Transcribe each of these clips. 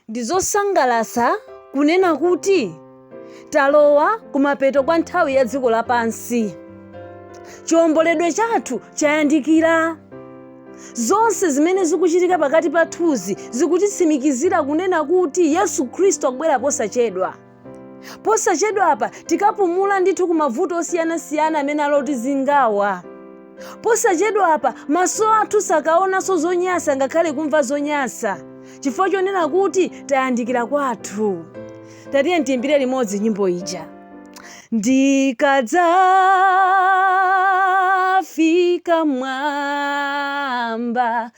Ndi zosangalatsa kunena kuti talowa kumapeto kwa nthawi ya dziko lapansi. Chiwomboledwe chathu chayandikira. Zonse zimene zikuchitika pakati pathuzi zikutitsimikizira kunena kuti Yesu Khristu akubwera posachedwa. posachedwapa tikapumula ndithu kumavuto osiyanasiyana amene alotizingawa posachedwapa maso athu sakaonanso zonyasa ngakhale kumva zonyasa chifukwa chonena kuti tayandikira kwathu tatiye tiyimbire limodzi nyimbo ija ndikadzafika mwamba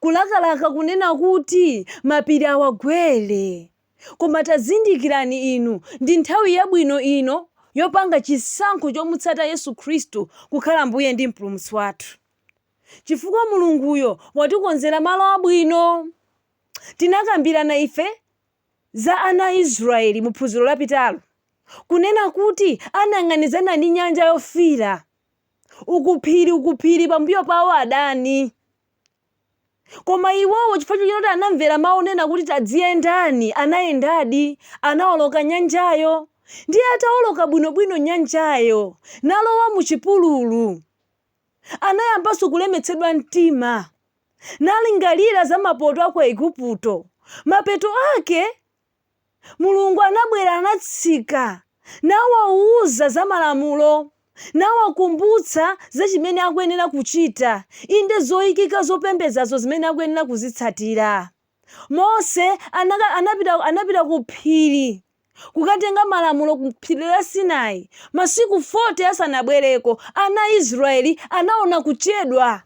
kulakalaka kunena kuti mapiri awagwere. Koma tazindikirani inu, ndi nthawi yabwino ino yopanga chisankho chomutsata Yesu Khristu kukhala Mbuye ndi Mpulumutsi wathu, chifukwa Mulunguyo watikonzera malo abwino. Tinakambirana ife za ana a Israeli mu phunziro lapitalo, kunena kuti anayang'anizana ndi Nyanja Yofiira. uku phiri uku phiri pambuyo pawo adani koma iwowo chifukwa choti anamvera mawu onena kuti tadziyendani anayendadi anawoloka nyanjayo ndiye atawoloka bwinobwino nyanjayo nalowa mu chipululu anayambanso kulemetsedwa mtima nalingalira za mapoto a ku aigupto mapeto ake Mulungu anabwera, anatsika, nawauza za malamulo, nawakumbutsa za chimene akuyenera kuchita, inde, zoikika zopembedzazo zimene akuyenera kuzitsatira. Mose anapita ku phiri kukatenga malamulo ku phiri la Sinai, masiku 40 asanabwereko, ana a Israeli anaona kuchedwa.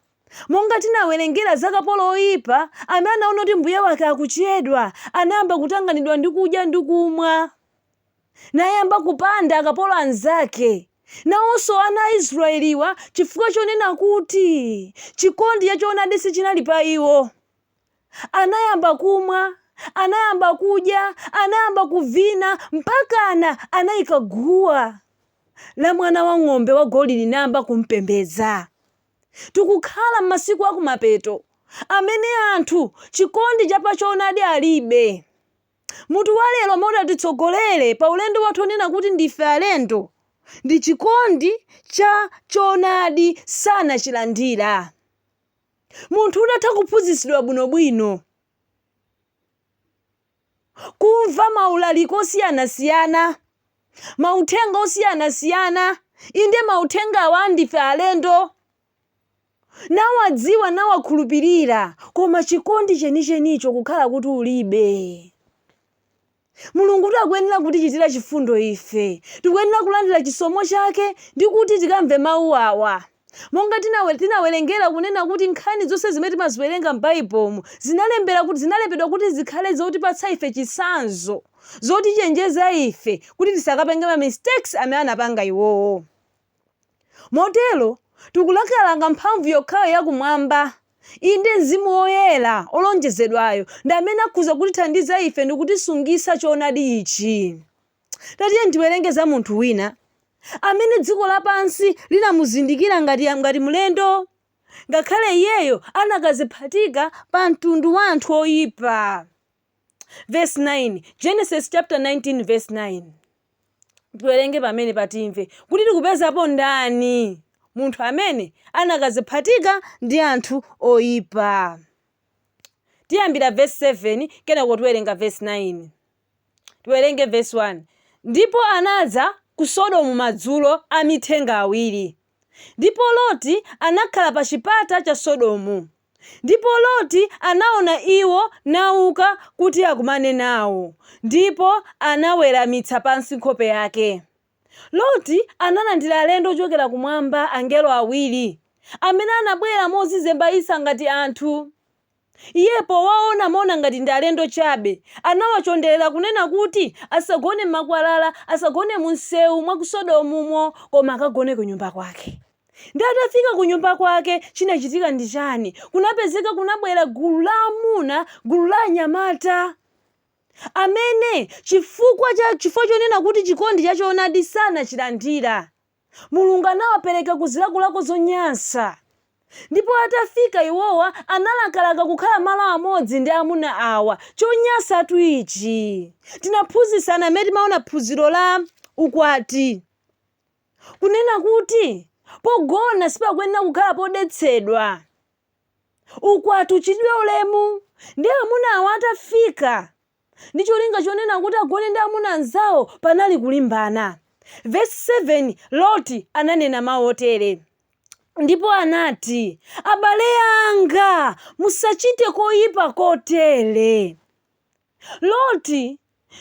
Monga tinawerengera za kapolo woipa amene anaona kuti mbuye wake akuchedwa, anayamba kutanganidwa ndi kudya ndi kumwa, nayamba kupanda akapolo anzake. Nawonso ana a Israyeliwa, chifukwa chonena kuti chikondi cha choonadi sichinali pa iwo, anayamba kumwa, anayamba kudya, anayamba kuvina, mpakana anaika guwa la mwana wa ng'ombe wagolidi nayamba kumpembedza. Tikukhala m'masiku akumapeto amene anthu chikondi cha pa choonadi alibe. Mutu wa lero umene utatitsogolere pa ulendo wathu wonena kuti ndife alendo ndi chikondi cha choonadi sanachilandira. Munthu udatha kuphunzitsidwa bwinobwino. kumva maulaliko osiyanasiyana, mauthenga osiyanasiyana, inde, mauthenga awa ndife alendo, nawadziwa, nawakhulupirira, koma chikondi chenichenicho kukhala kuti ulibe. Mulungutu akuyenera kutichitira chifundo ife, tikuyenera kulandira chisomo chake ndi kuti tikamve mawu awa. Monga tinawerengera kunena kuti nkhani zonse zimene timaziwerenga m'Baibulomu zinalembedwa kuti, zinalembedwa kuti zikhale zotipatsa ife chitsanzo, zotichenjeza ife kuti tisakapange ma mistakes amene anapanga iwowo. Motero, tikulakalaka mphamvu yokhayo ya kumwamba, inde Mzimu Woyera olonjezedwayo ndi amene akhoza kutithandiza ife ndi kutisungitsa choonadi ichi. Tatiyeni tiwerenge za munthu wina amene dziko lapansi linamuzindikira ngati, ngati mlendo, ngakhale iyeyo anakadziphatika pa mtundu wa anthu oyipa. Vesi 9, Genesis chapter 19 verse 9. Tiwerenge pamenepa timve kuti tikupezapo ndani munthu amene anakadziphatika ndi anthu oyipa. Tiyambira vesi 7 kenako tiwerenga vesi 9. Tiwerenge vesi 1, Ndipo anadza ku Sodomu madzulo amithenga awiri, ndipo Loti anakhala pa chipata cha Sodomu, ndipo Loti anaona iwo nauka kuti akumane nao, ndipo anaweramitsa pansi nkhope yake. Loti analandira alendo ochokera kumwamba, angelo awiri, amene anabwera modzizembaitsa ngati anthu. Iye powaona amaona ngati ndi alendo chabe. Anawachonderera kunena kuti asagone m'makwalala, asagone mumsewu mwa ku Sodomumo, koma akagone kunyumba kwake. Ndiye atafika kunyumba kwake, chinachitika ndi chani? Kunapezeka kunabwera gulu la amuna, gulu la anyamata amene chifukwa, chifukwa chonena kuti chikondi cha choonadi sanachilandira. Mulungu anawapereka ku zilakolako zonyansa. Ndipo atafika iwowa analakalaka kukhala malo amodzi ndi amuna awa. Chonyansatu ichi! Tinaphunzitsana mmene timaona phunziro la ukwati kunena kuti pogona sipakuyenera kukhala podetsedwa. Ukwati uchitidwe ulemu. Ndiye amuna awa atafika ndi cholinga chonena kuti agone ndi amuna anzawo, panali kulimbana. Vesi 7, Loti ananena mawu otere, Ndipo anati, Abale anga, musachite koyipa kotere. Loti,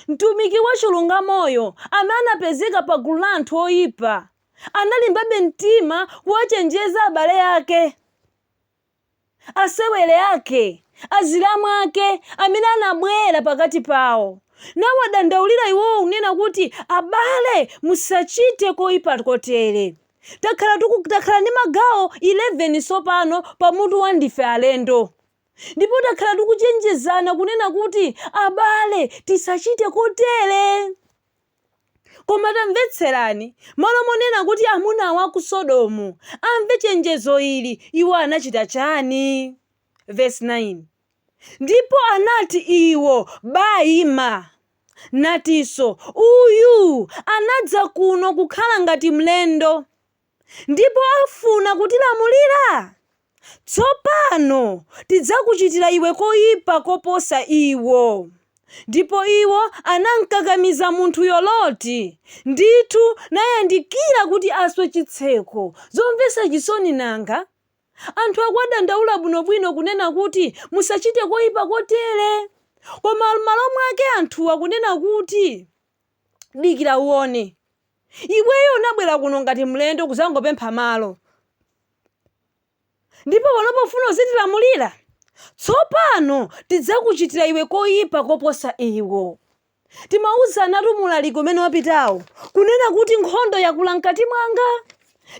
mtumiki wachilungamoyo amene anapezeka pa gulu la anthu oyipa, analimbabe mtima kuwachenjeza abale ake. asewere ake, azilamu ake amene anabwera pakati pawo, nawadandaulira iwowo, kunena kuti, Abale, musachite koipa kotere. Ta, takhala ndi magawo 11 tsopano pa mutu wa Ndife Alendo. Ndipo takhala tikuchenjezana kunena kuti, Abale, tisachite kotere. Koma tamvetserani, malo monena kuti amuna awa aku Sodomu amve chenjezo ili, iwo anachita chani? Verse 9, Ndipo anati iwo, Baima, natinso, Uyu anadza kuno kukhala ngati mlendo. ndipo afuna kutilamulira? Tsopano tidzakuchitira iwe koyipa koposa iwo. Ndipo iwo anamkakamiza munthuyo Loti, ndithu, nayandikira kuti aswe chitseko. Zomvetsa chisoni nanga! Anthu akuwadandaula bwinobwino kunena kuti, Musachite koyipa kotere! Koma m'malo mwake anthu akunena kuti, Dikira uwone. Iweyo unabwera kuno ngati mlendo kuzangopempha malo. Ndipo panopa ufuna uzitilamulira? Tsopano tidzakuchitira iwe koyipa koposa iwo. Timauzanatu mu ulaliki umene wapitawo, kunena kuti nkhondo yakula mkati mwanga.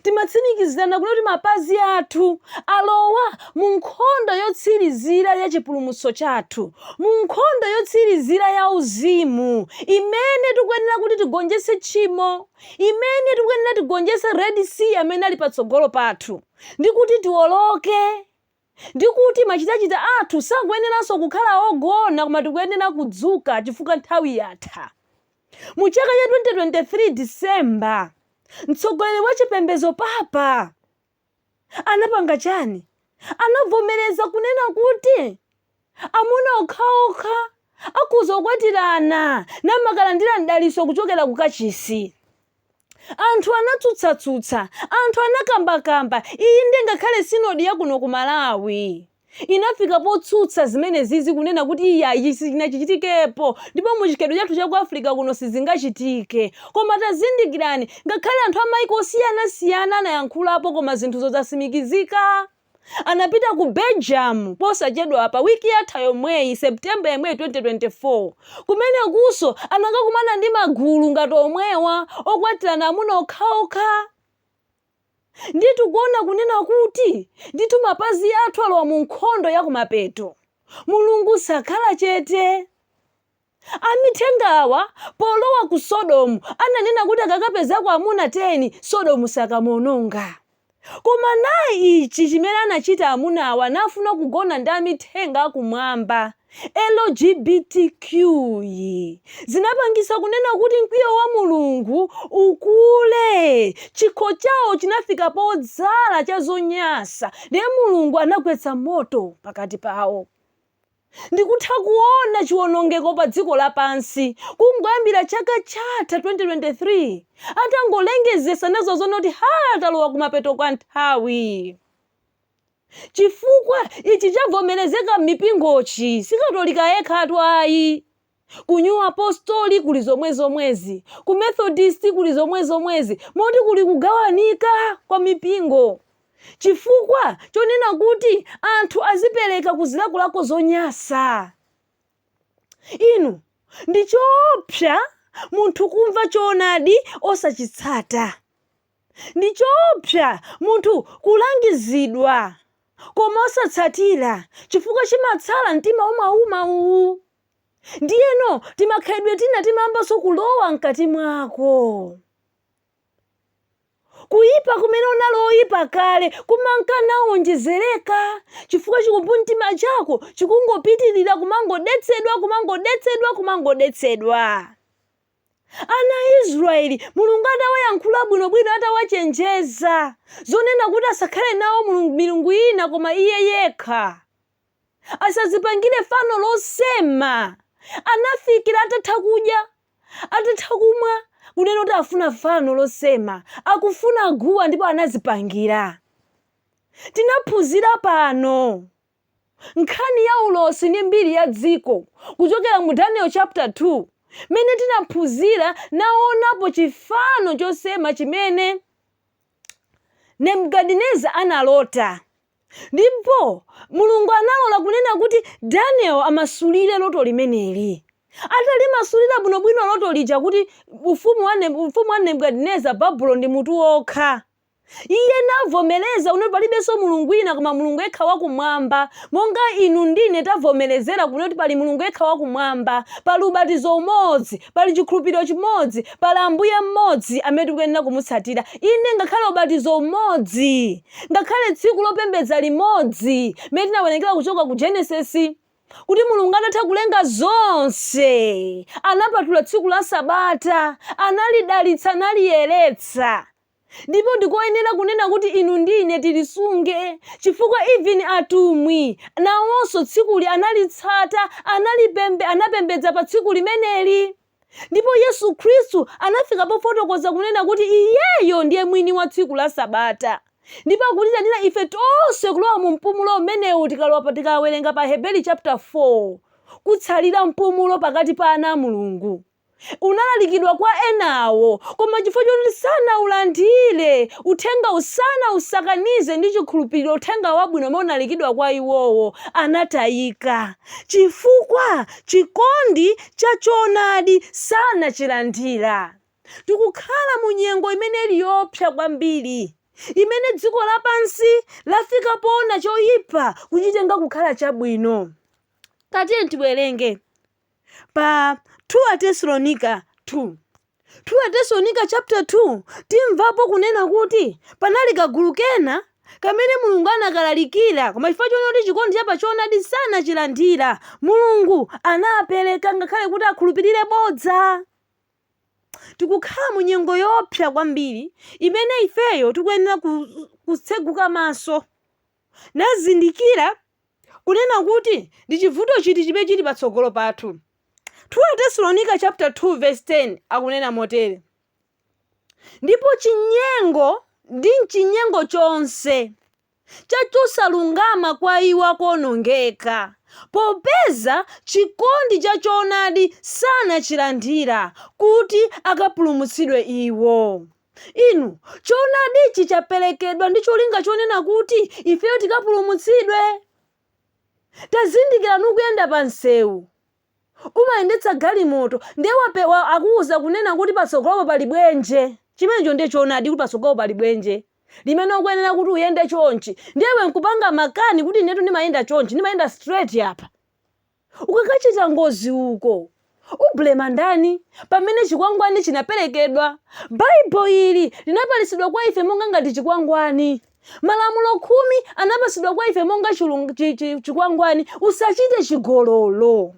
Timatsimikizirana kuti mapazi athu alowa mu nkhondo yotsirizira ya chipulumutso chathu, mu nkhondo yotsirizira yauzimu imene tikuyenera kuti tigonjetse tchimo, imene tikuyenera tigonjetse Red Sea amene ali patsogolo pathu, ndi kuti tiwoloke ndi kuti machitachita athu sakuyeneranso kukhala ogona koma tikuyenera kudzuka chifukwa nthawi yatha. Mu chaka cha 2023 December, mtsogoleri wa chipembedzo Papa anapanga chani? Anavomereza kunena kuti Amuna okhaokha akhoza kukwatirana namakalandira mdalitso kuchokera ku kachisi. Anthu anatsutsatsutsa, anthu anakambakamba, inde ngakhale sinodi ya kuno ku Malawi inafika potsutsa zimenezizi kunena kuti iyayi sichinachichitikepo ndipo mu chikhalidwe chathu cha ku Africa kuno sizingachitike. Koma tazindikirani ngakhale anthu a maiko osiyanasiyana anayankhulapo koma zinthuzo zatsimikizika. anapita ku Belgium posachedwapa, wiki yatha yomweyi, September yomweyi 2024. Kumenekunso anakakumana ndi magulu ngati omwewa, okwatirana amuna okhaokha. Ndiye tikuona kunena kuti ndithu mapazi athu alowa mu nkhondo ya kumapeto. Mulungu sakhala chete. Amithenga awa polowa ku Sodomu ananena kuti akakapezako amuna 10 Sodomu sakamuononga. Koma nayi ichi chimene anachita amuna awa anafuna kugona ndi amithenga akumwamba, LGBTQ zinapangisa kunena kuti mkwiyo wa Mulungu ukule chikho chawo chinafika podzala cha zonyasa ndiye Mulungu anagwetsa moto pakati pawo. Ndikutha kuona chiwonongeko padziko lapansi kungoyambira chaka chatha 2023 atangolengezesa nazoona kuti haa talowa kumapeto kwa nthawi. Chifukwa ichi chavomerezeka mmipingochi sikatolika yekhatu ayi. Ku New Apostoli kuli zomwezomwezi. Ku Methodisti kuli zomwezomwezi, moti kuli kugawanika kwa mipingo chifukwa chonena kuti anthu azipereka ku zilakolako zonyasa. Inu, ndi choopsa munthu kumva choonadi osachitsata. Ndi choopsa munthu kulangizidwa koma osatsatira chifukwa chimatsala mtima umauma. Uwu ndiyeno timakhalidwe tina timayambanso kulowa mkati mwako kuyipa kumene unali oyipa kale kumanka nawonjezereka chifukwa chikumbumtima chako chikungopitirira kumangodetsedwa kumangodetsedwa kumangodetsedwa ana a israeli mulungu atawayankhula bwinobwino atawachenjeza zonena kuti asakhale nawo mulungu- milungu ina koma iye yekha Asadzipangire fano losema. Anafikira atatha kudya, atatha kumwa, kunena kuti afuna fano losema. Akufuna guwa ndipo anazipangira. Tinaphunzira pano nkhani ya ulosi ndi mbiri ya dziko kuchokera mu Daniel chapter 2 mene tinaphunzira naonapo chifano chosema chimene Nebuchadnezzar analota. Ndipo Mulungu analola kunena kuti Daniel amasulire loto limeneli. Atalimasulira bwinobwino loto lija kuti ufumu wa, Neb ufumu wa Nebukadineza Babulo ndi mutu wokha. Iye navomereza kunena kuti palibenso Mulungu wina koma Mulungu yekha wakumwamba, monga inu ndine tavomerezera kunena kuti pali Mulungu yekha wakumwamba, pali ubatizo umodzi, pali chikhulupiriro chimodzi, pali Ambuye mmodzi amene tikuyenera kumutsatira, inde ngakhale ubatizo umodzi. Ngakhale tsiku lopembedza limodzi limene tinawerengera kuchoka ku Genesis kuti Mulungu atatha kulenga zonse anapatula tsiku la Sabata, analidalitsa, analiyeretsa ndipo ndikoyenera kunena kuti inu ndi ine tilisunge chifukwa even atumwi nawonso tsikuli analitsata, analipembe, anapembedza pa tsiku limeneli. Ndipo Yesu Khristu anafika pofotokoza kunena kuti iyeyo ndiye mwini wa tsiku la Sabata. Ndipo akutiitanira ife tonse kulowa mu mpumulo umenewu tikalowa pa tikawerenga pa Aheberi chapter 4. Kutsalira mpumulo pakati pa ana a Mulungu. Unalalikidwa kwa enawo, koma chifukwa choti sanaulandire, uthenga usana usakanize ndi chikhulupiriro uthenga wabwino umene unalikidwa kwa iwowo, anatayika. Chifukwa chikondi cha choonadi sanachilandira. Tikukhala mu nyengo imene ili yoopsa kwambiri, imene dziko lapansi lafika poona choyipa kuchitenga kukhala chabwino. Tatiyeni tiwerenge pa 2 Atesalonika 2. 2 Atesalonika chapter 2 Timvapo kunena kuti panali kagulu kena kamene Mulungu anakalalikira, koma chifukwa chonena kuti chikondi cha pa choonadi sanachilandira, Mulungu anapereka ngakhale kuti akhulupirire bodza. Tikukhala mu nyengo yoopsa kwambiri imene ifeyo tikuyenera ku- kutseguka maso nazindikira kunena kuti ndi chivuto chiti chimene chili patsogolo pathu. 2 Atesalonika chapter 2 verse 10 akunena motere, Ndipo chinyengo ndi m'chinyengo chonse cha chosalungama kwa iwo akuonongeka, popeza chikondi cha choonadi sanachilandira, kuti akapulumutsidwe iwo. Inu, choonadichi chaperekedwa ndi cholinga chonena kuti ifeyo tikapulumutsidwe. Tazindikirani ukuyenda pa msewu, umayendetsa galimoto, ndiye wape, wa, akuuza kunena kuti patsogolopo pali dzenje. Chimenecho ndiye choonadi kuti patsogolopo pali dzenje limene ukuyenera kuti uyende chonchi, ndiye iwe nkupanga makani kuti inetu ndimayenda chonchi, ndimayenda straight apa. ukakachita ngozi uko. Ublema ndani? Pamene chikwangwani chinaperekedwa, Baibulo ili linapatsidwa kwa ife monga ngati chikwangwani. Malamulo khumi anapatsidwa kwa ife monga chilung- chi- chi- chikwangwani, usachite chigololo.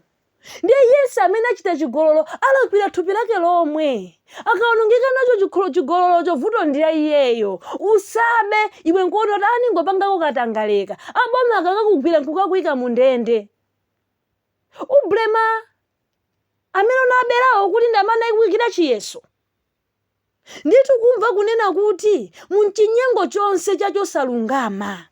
Ndiye iye yense amene achita chigololo alakwira thupi lake lomwe. Akaonongeka nacho chigololocho vuto ndi la iyeyo. Usabe, iwe nkuona kuti ah ndingopangako katangaleka. Aboma akakakugwira nkukakuika mu ndende. Ublema amene unaberawo kuti ndi amene anakuikira chiyeso. Ndithu kumva kunena kuti mu mchinyengo chonse cha chosalungama.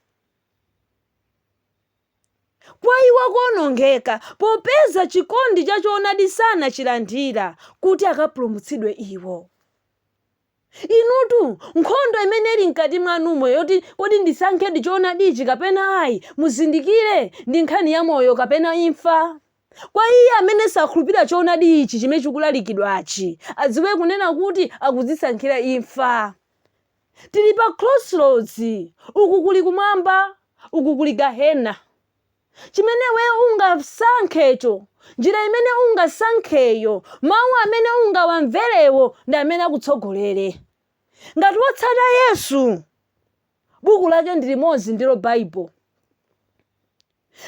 kwa iwo akuonongeka, popeza chikondi cha choonadi sanachilandira, kuti akapulumutsidwe iwo. Inutu, nkhondo imene ili mkati mwanumo yoti kodi ndisankhe choonadi ichi kapena ayi, muzindikire, ndi nkhani ya moyo kapena imfa. Kwa iye amene sakhulupirira choonadi ichi chimene chikulalikidwachi, adziwe kunena kuti akudzisankhira imfa. Tili pa crossroads, uku kuli kumwamba, uku kuli gahena. Chimene iwe ungasankhecho, njira imene ungasankheyo, mawu amene ungawamverewo ndi amene akutsogolere. Ngati wotsata Yesu, buku lake ndi limodzi ndilo Bible.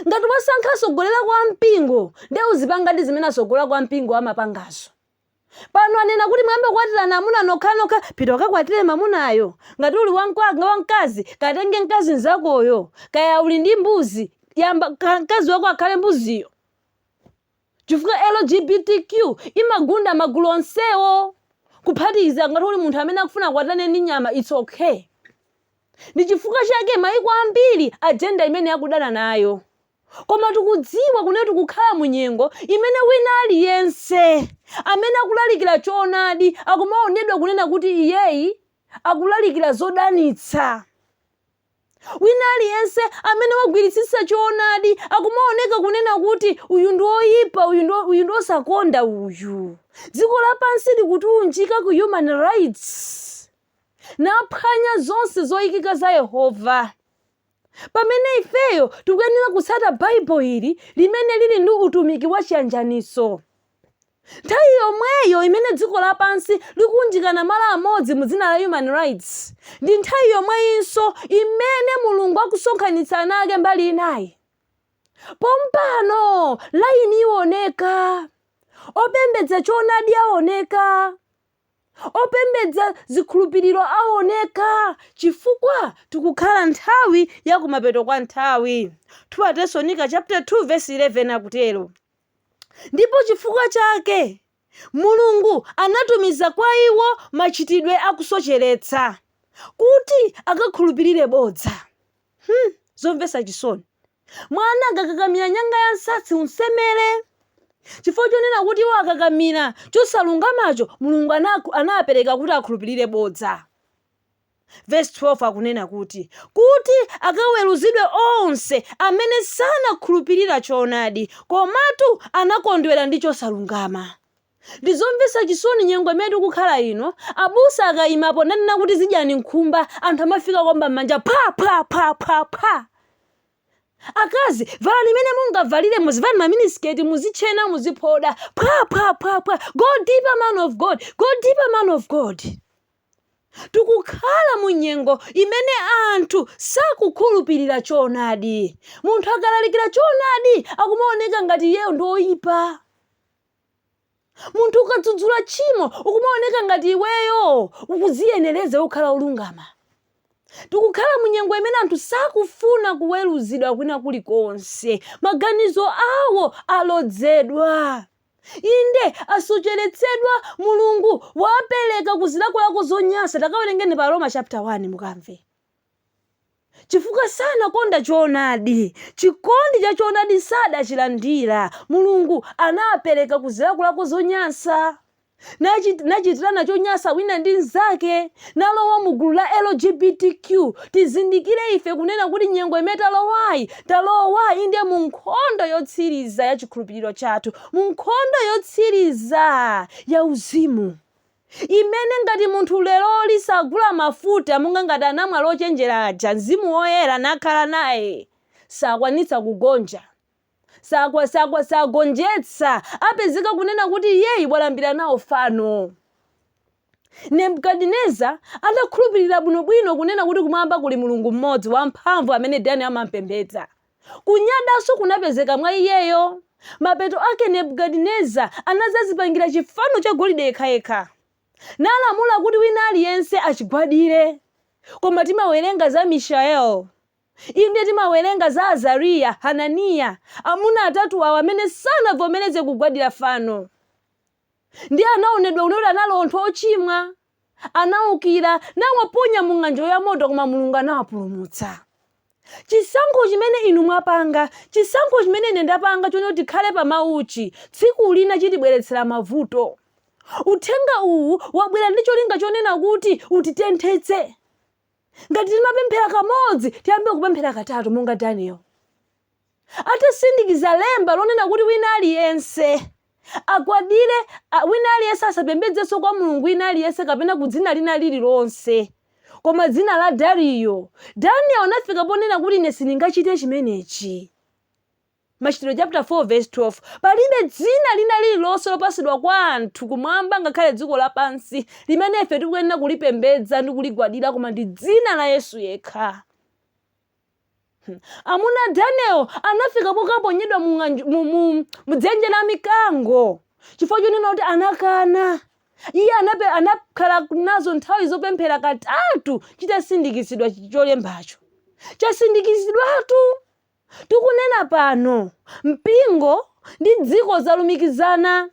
Ngati wasankha atsogoleri aku mpingo, nde uzipangadi zimene atsogoleri aku mpingo amapangazo. pano anena kuti muyambe kukwatirana amuna nokhanokha pita ukakwatire mamunayo ngati uli wamkazi katenge mkazi mzakoyo kaya uli ndi mbuzi yamba ka- mkazi wako akhale mbuziyo chifukwa lgbtq imagunda magulu onsewo kuphatikiza ngati uli munthu amene akufuna akwatane ndi nyama its okay ndi chifukwa chake maiko ambiri ajenda imene akudana nayo Koma tikudziwa kunena tikukhala mu nyengo imene wina aliyense amene akulalikira choonadi akumaonedwa kunena kuti iyeyi akulalikira zodanitsa. Wina aliyense amene wagwiritsitsa choonadi akumaoneka kunena kuti uyu ndi oyipa, uyu ndi osakonda uyu. Dziko lapansi likuunjika ku human rights naphwanya zonse zoyikika za Yehova. pamene ifeyo tikuyenera kutsata Bible ili limene lili ndi utumiki wa chiyanjanitso. Nthawi yomweyo imene dziko lapansi likuunjikana malo amodzi mu dzina la human rights, ndi nthawi yomweyinso imene Mulungu akusonkhanitsa ana ake mbali inayi. Pompano layini iwoneka, opembedza choonadi aoneka. Opembedza zikhulupiriro aoneka chifukwa tikukhala nthawi ya kumapeto kwa nthawi, 2 Atesalonika chapter 2 verse 11 akutero, ndipo chifukwa chake Mulungu anatumiza kwa iwo machitidwe a kusocheretsa, kuti akakhulupirire bodza. Hmm, zomvetsa chisoni. Mwana akakakamira nyanga ya nsatsi, umsemere. Chifukwa chonena kuti iwo akakamira chosalungamacho, Mulungu anawapereka kuti akhulupilire bodza. Vesi 12 akunena kuti, kuti akaweruzidwe onse amene sanakhulupilira choonadi, komatu anakondwera ndi chosalungama. Ndizomvetsa chisoni nyengo imene tikukhala ino, abusa akayimapo nanena kuti zidyani nkhumba, anthu amafika kuomba mmanja phwa phwa phwa phwa phwa! Akazi valani mene mungavalire muzivala ma miniskirt muzitchena muziphoda phwa phwa phwa phwa! Go deeper man of God! Go deeper man of God! Tikukhala mu nyengo imene anthu sakukhulupilira choonadi. Munthu akalalikira choonadi akumaoneka ngati iyeyo ndi oyipa. munthu ukadzudzula tchimo ukumaoneka ngati iweyo ukudziyenereza kukhala olungama tikukhala mu nyengo imene anthu sakufuna kuweruzidwa kwina kulikonse maganizo awo alodzedwa inde asocheretsedwa mulungu wapereka ku zilakolako zonyansa takawerengeni pa aroma chapter 1 mukamve Chifukwa sanakonda choonadi, chikondi cha choonadi sadachilandira, Mulungu anawapereka ku zilakolako zonyansa, nachitirana chonyansa wina ndi mzake, nalowa mu gulu la LGBTQ. Tizindikire ife kunena kuti nyengo imene talowayi, talowa inde mu nkhondo yotsiriza ya chikhulupiliro chathu, mu nkhondo yotsiriza ya uzimu. Imene ngati munthu leroli sagula mafuta monga ngati anamwali ochenjera aja, Mzimu Woyera nakhala naye, sakwanitsa kugonja, sakwa, sakwa, sagonjetsa, apezeka kunena kuti iyeyu walambira nawo fano. Nebukadineza adakhulupirira bwinobwino kunena kuti kumwamba kuli Mulungu mmodzi wamphamvu amene Daniel amampembedza. Kunyadanso kunapezeka mwa iyeyo. Mapeto ake Nebukadineza anadzadzipangira chifano cha golide yekhayekha, nalamula kuti wina aliyense achigwadire. Koma timawerenga za Mishael, inde, timawerenga za Azariya, Hananiya, amuna atatu awa amene sanavomereze kugwadira fano. Ndiye anaonedwa kunena kuti anali anthu ochimwa, anaukira, nawaponya mu ng'anjo ya moto, koma Mulungu anawapulumutsa. Chisankho chimene inu mwapanga, chisankho chimene ine ndapanga chonena kuti tikhale pa Mawuchi, tsiku lina chitibweretsera mavuto. Uthenga uwu wabwera ndi cholinga chonena kuti utitenthetse. ngati timapemphera kamodzi tiyambe kupemphera katatu monga daniel atasindikiza lemba lonena kuti wina aliyense agwadire a- wina aliyense asapembedzenso kwa mulungu wina aliyense kapena ku dzina lina lililonse koma dzina la dariyo daniel anafika ponena kuti ine sindingachite chimenechi Machitidwe chaputala 4 vesi 12 Palibe dzina lina lirilonse lopatsidwa kwa anthu kumwamba ngakhale dziko lapansi, limene ife tikuyenera kulipembedza ndi kuligwadira koma ndi dzina la Yesu yekha. Hmm. Amuna a Daniel anafika pokaponyedwa mu, mu, mu, mu dzenje la mikango chifukwa chonena kuti anakana iye anape, anakhala nazo nthawi zopemphera katatu chitasindikizidwa cholembacho chasindikizidwatu tikunena pano, mpingo ndi dziko zalumikizana.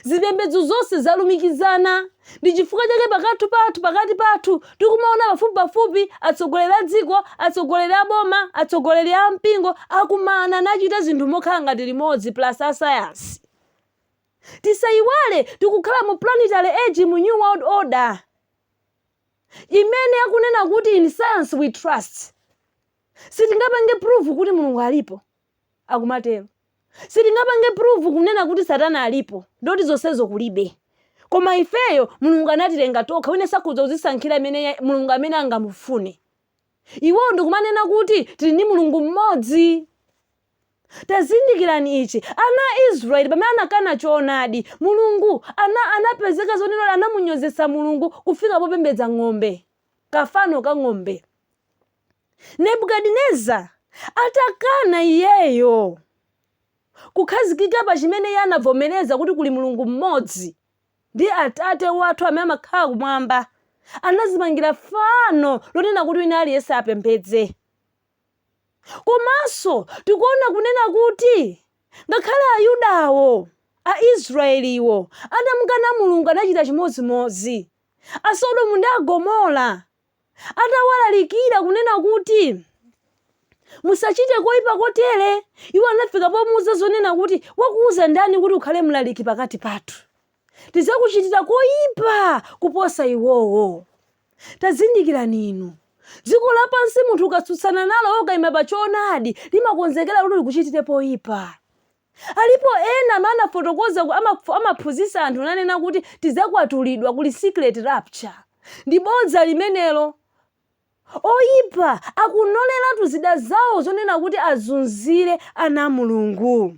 Zipembedzo zonse zalumikizana. Ndi chifukwa chake pakathu pathu, pakati pathu, tikumaona pafupipafupi atsogoleri a dziko, atsogoleri a boma, atsogoleri a mpingo akumana nachita zinthu mokhala ngati limodzi plus asayansi. Tisayiwale tikukhala mu planetary age mu New World Order. imene akunena kuti in science we trust sitingapange prove kuti mulungu alipo akumatero sitingapange prove kunena kuti satana alipo ndoti zonsezo kulibe koma ifeyo mulungu anatilenga tokha wina sakhudza kuzisankhira imene ya- mulungu amene angamufune iwowo ndikumanena kuti tili ndi mulungu mmodzi Tazindikirani ichi, ana a Israeli, pamene anakana Choonadi, Mulungu ana, anapezeka zonena anamunyozetsa Mulungu kufika popembedza ng'ombe, kafano ka ng'ombe. Nebukadineza atakana iyeyo kukhazikika pa chimene iye anavomereza kuti kuli Mulungu mmodzi, ndi Atate wathu amene amakhala kumwamba, anazimangira fano lonena kuti wina aliyense apembedze. Komanso tikuona kunena kuti ngakhale Ayudawo, Aisrayeliwo, anamukana Mulungu anachita chimodzimodzi. Asodomu ndi Agomora atawalalikira kunena kuti musachite koipa kotere, iwo anafika pomuuza zonena kuti wakuuza ndani kuti ukhale mlaliki pakati pathu? tidzakuchitira koipa kuposa iwowo. Tazindikirani inu, dziko lapansi munthu ukatsutsana nalo ukaima pa choonadi limakonzekera kuti likuchitire poipa. Alipo ena amene anafotokoza ku- amaf- amaphunzitsa anthu nanena kuti tidzakwatulidwa kuli secret rapture. Ndi bodza limenelo. Oipa akunoleratu zida zawo zonena kuti azunzire ana a Mulungu.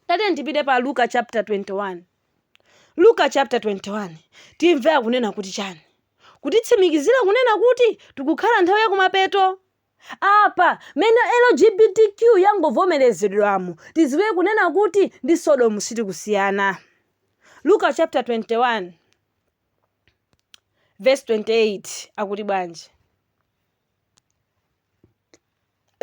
tatiyeni tipite pa luka chapter 21 luka chapter 21 timve akunena kuti chani kutitsimikizira kunena kuti tikukhala nthawi yakumapeto apa m'mene lgbtq yangovomerezedwamo tidziwe kunena kuti ndi sodomu sitikusiyana luka chapter 21 verse 28 akuti bwanji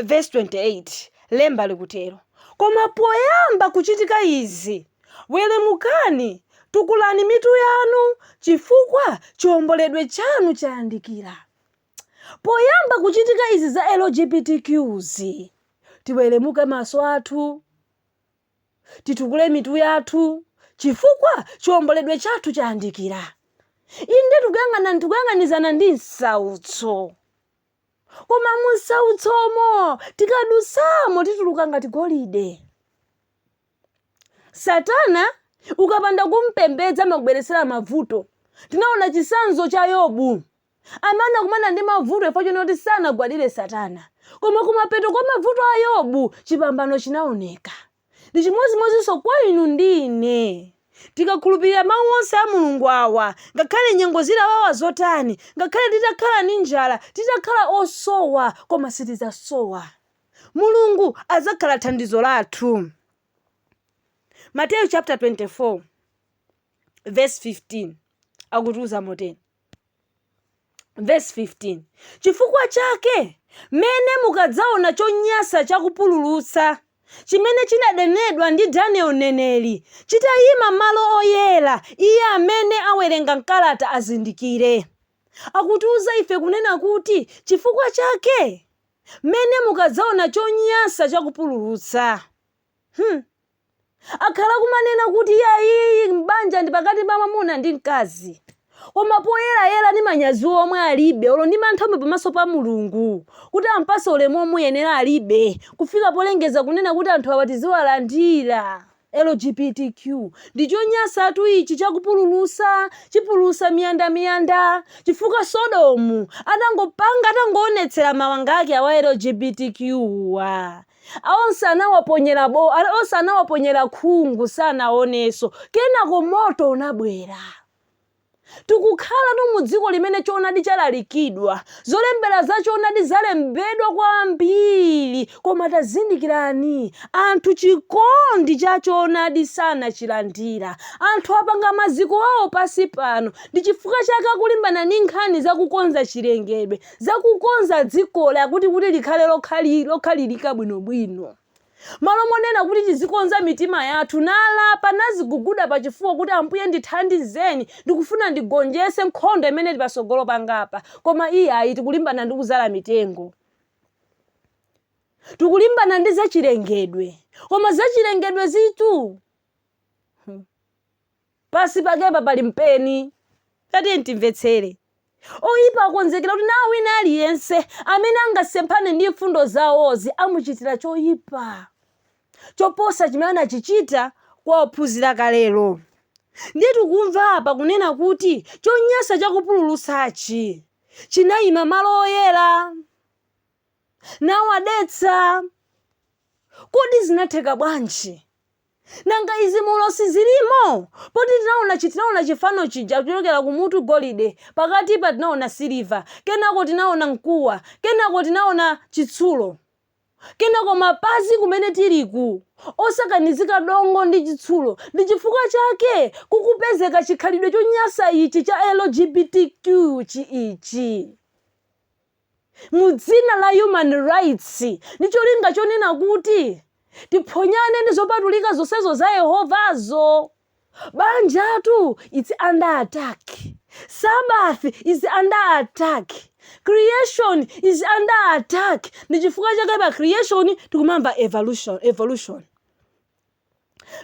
vesi 28 lemba likutero koma poyamba kuchitika izi weremukani tukulani mitu yanu chifukwa chiomboledwe chanu chayandikira poyamba kuchitika izi za lgbtqs tiweremuke maso athu titukule mitu yathu chifukwa chiomboledwe chathu chayandikira. Inde, tikuyang'ana tikuyang'anizana ndi msautso, koma mu msautsomo tikadutsamo tituluka ngati golide. Satana ukapanda kumpembedza amakubweretsera mavuto. Tinaona chitsanzo cha Yobu. amene anakumana ndi mavuto chifukwa chonena kuti sanagwadire Satana. Koma kumapeto kwa mavuto a Yobu, chipambano chinaoneka. Ndi chimodzimodzinso kwa inu ndi ine. Tikakhulupirira Mawu onse a Mulungu awa, ngakhale nyengo zitawawa zotani, ngakhale titakhala ndi njala, titakhala osowa, koma sitidzasowa. Mulungu adzakhala thandizo lathu. Mateyu chaputala 24 vesi 15 akutiuza motere. Vesi 15 chifukwa chake m'mene mukadzaona chonyansa cha kupululutsa chimene chinanenedwa ndi Daniel mneneri chitayima malo oyera, iye amene awerenga m'kalata azindikire. Akutiuza ife kunena kuti chifukwa chake m'mene mukadzaona chonyansa cha kupululutsa. Hmm. Akhala akumanena kuti iyayi banja ndi pakati pa mwamuna ndi mkazi. Koma poyerayera ndi manyazi omwe alibe olo ndi mantha omwe pamaso pa Mulungu kuti ampatse ulemu omuyenera alibe kufika polengedza kunena kuti anthu awa tiziwalandira. LGBTQ ndi chonyansatu ichi chakupululutsa, chipululutsa miyanda miyanda chifukwa Sodomu atangopanga atangoonetsera mawanga ake awa LGBTQ wa. onse anawaponyera bo, onse anawaponyera khungu sanaonenso. Kenako moto unabwera. Tikukhalatu mu dziko limene choonadi chalalikidwa, zolembera za choonadi zalembedwa kwambiri, koma tazindikirani, anthu chikondi cha choonadi sanachilandira. Anthu apanga maziko awo pansi pano, ndi chifukwa chake akulimbana ndi nkhani za kukonza chilengedwe, za kukonza dzikoli akuti kuti likhale lokhali lokhalirika bwinobwino. Malo monena kuti tizikonza mitima yathu nalapa naziguguda pachifuwa kuti Ambuye ndithandizeni ndikufuna ndigonjese nkhondo imene ili pasogolo pangapa koma iyayi tikulimbana ndi kuzala mitengo. Tikulimbana ndi zachilengedwe koma zachilengedwezitu hmm. Pansi pakepa pali mpeni. Tatiyeni timvetsere. Oipa akonzekera kuti nawo wina aliyense amene angasemphane ndi mfundo zawozi amuchitira choipa choposa chimene anachichita kwa ophunzira kalelo. Ndiye tikumva apa kunena kuti chonyansa chakupululutsachi chinaima malo oyera, nawadetsa. Kodi zinatheka bwanji? Nanga izi mu ulosi zilimo? Poti tinaona chi tinaona chifano chija kuchokera kumutu golide, pakatipa tinaona siliva, kenako tinaona mkuwa, kenako tinaona chitsulo. Kenako mapazi kumene tiliku osakanizika dongo ndi chitsulo ndi chifukwa chake kukupezeka chikhalidwe chonyasa ichi cha LGBTQ chi ichi. mu dzina la human rights ndi cholinga chonena kuti tiphonyane ndi zopatulika zonsezo za Yehovazo. Banjatu its under attack, Sabbath is under attack, creation is under attack ndi chifukwa chake pa creation tikumamva evolution, evolution.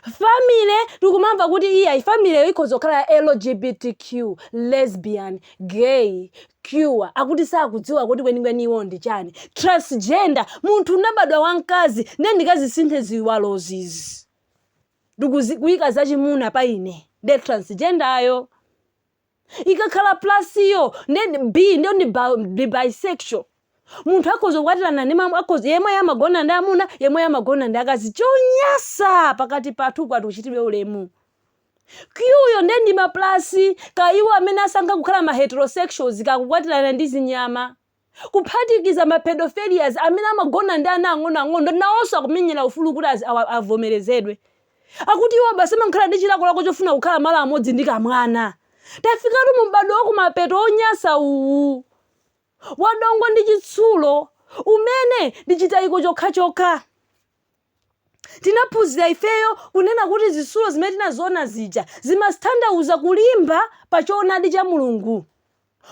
family tikumamva kuti iyayi family yo ikhoza kukhala ya lgbtq lesbian gay queer akuti sakudziwa kuti kwenikweni iwo ndi chani transgender munthu unabadwa wamkazi nde ndikazisinthe ziwalozizi ndikuzi- kuyika zachimuna pa ine nde transgender yo ikakhala plus yo nde ndi B nde ndi ba- ndi bisexual munthu akhoza kukwatirana ndi mamu akhoza yemweyo amagona ndi amuna yemweyo amagona ndi akazi chonyasa pakati pathu pakuti uchitidwe ulemu Q yo nde ndi maplasi ka iwo amene asankha kukhala ma heterosexuals kakukwatirana ndi zinyama kuphatikiza ma pedophilias amene amagona ndi ana ang'onoang'ono nawonso akumenyera ufulu kuti azi, awa, avomerezedwe. Akuti iwo basi amakhala ndi chilakolako chofuna kukhala malo amodzi ndi kamwana. Tafikatu mu m'badwo wa kumapeto wonyansa uwu wa dongo ndi chitsulo umene ndi chitayiko chokhachokha. Tinaphunzira ifeyo kunena kuti zitsulo zimene tinaziona zija zimatanthauza kulimba pa choonadi cha Mulungu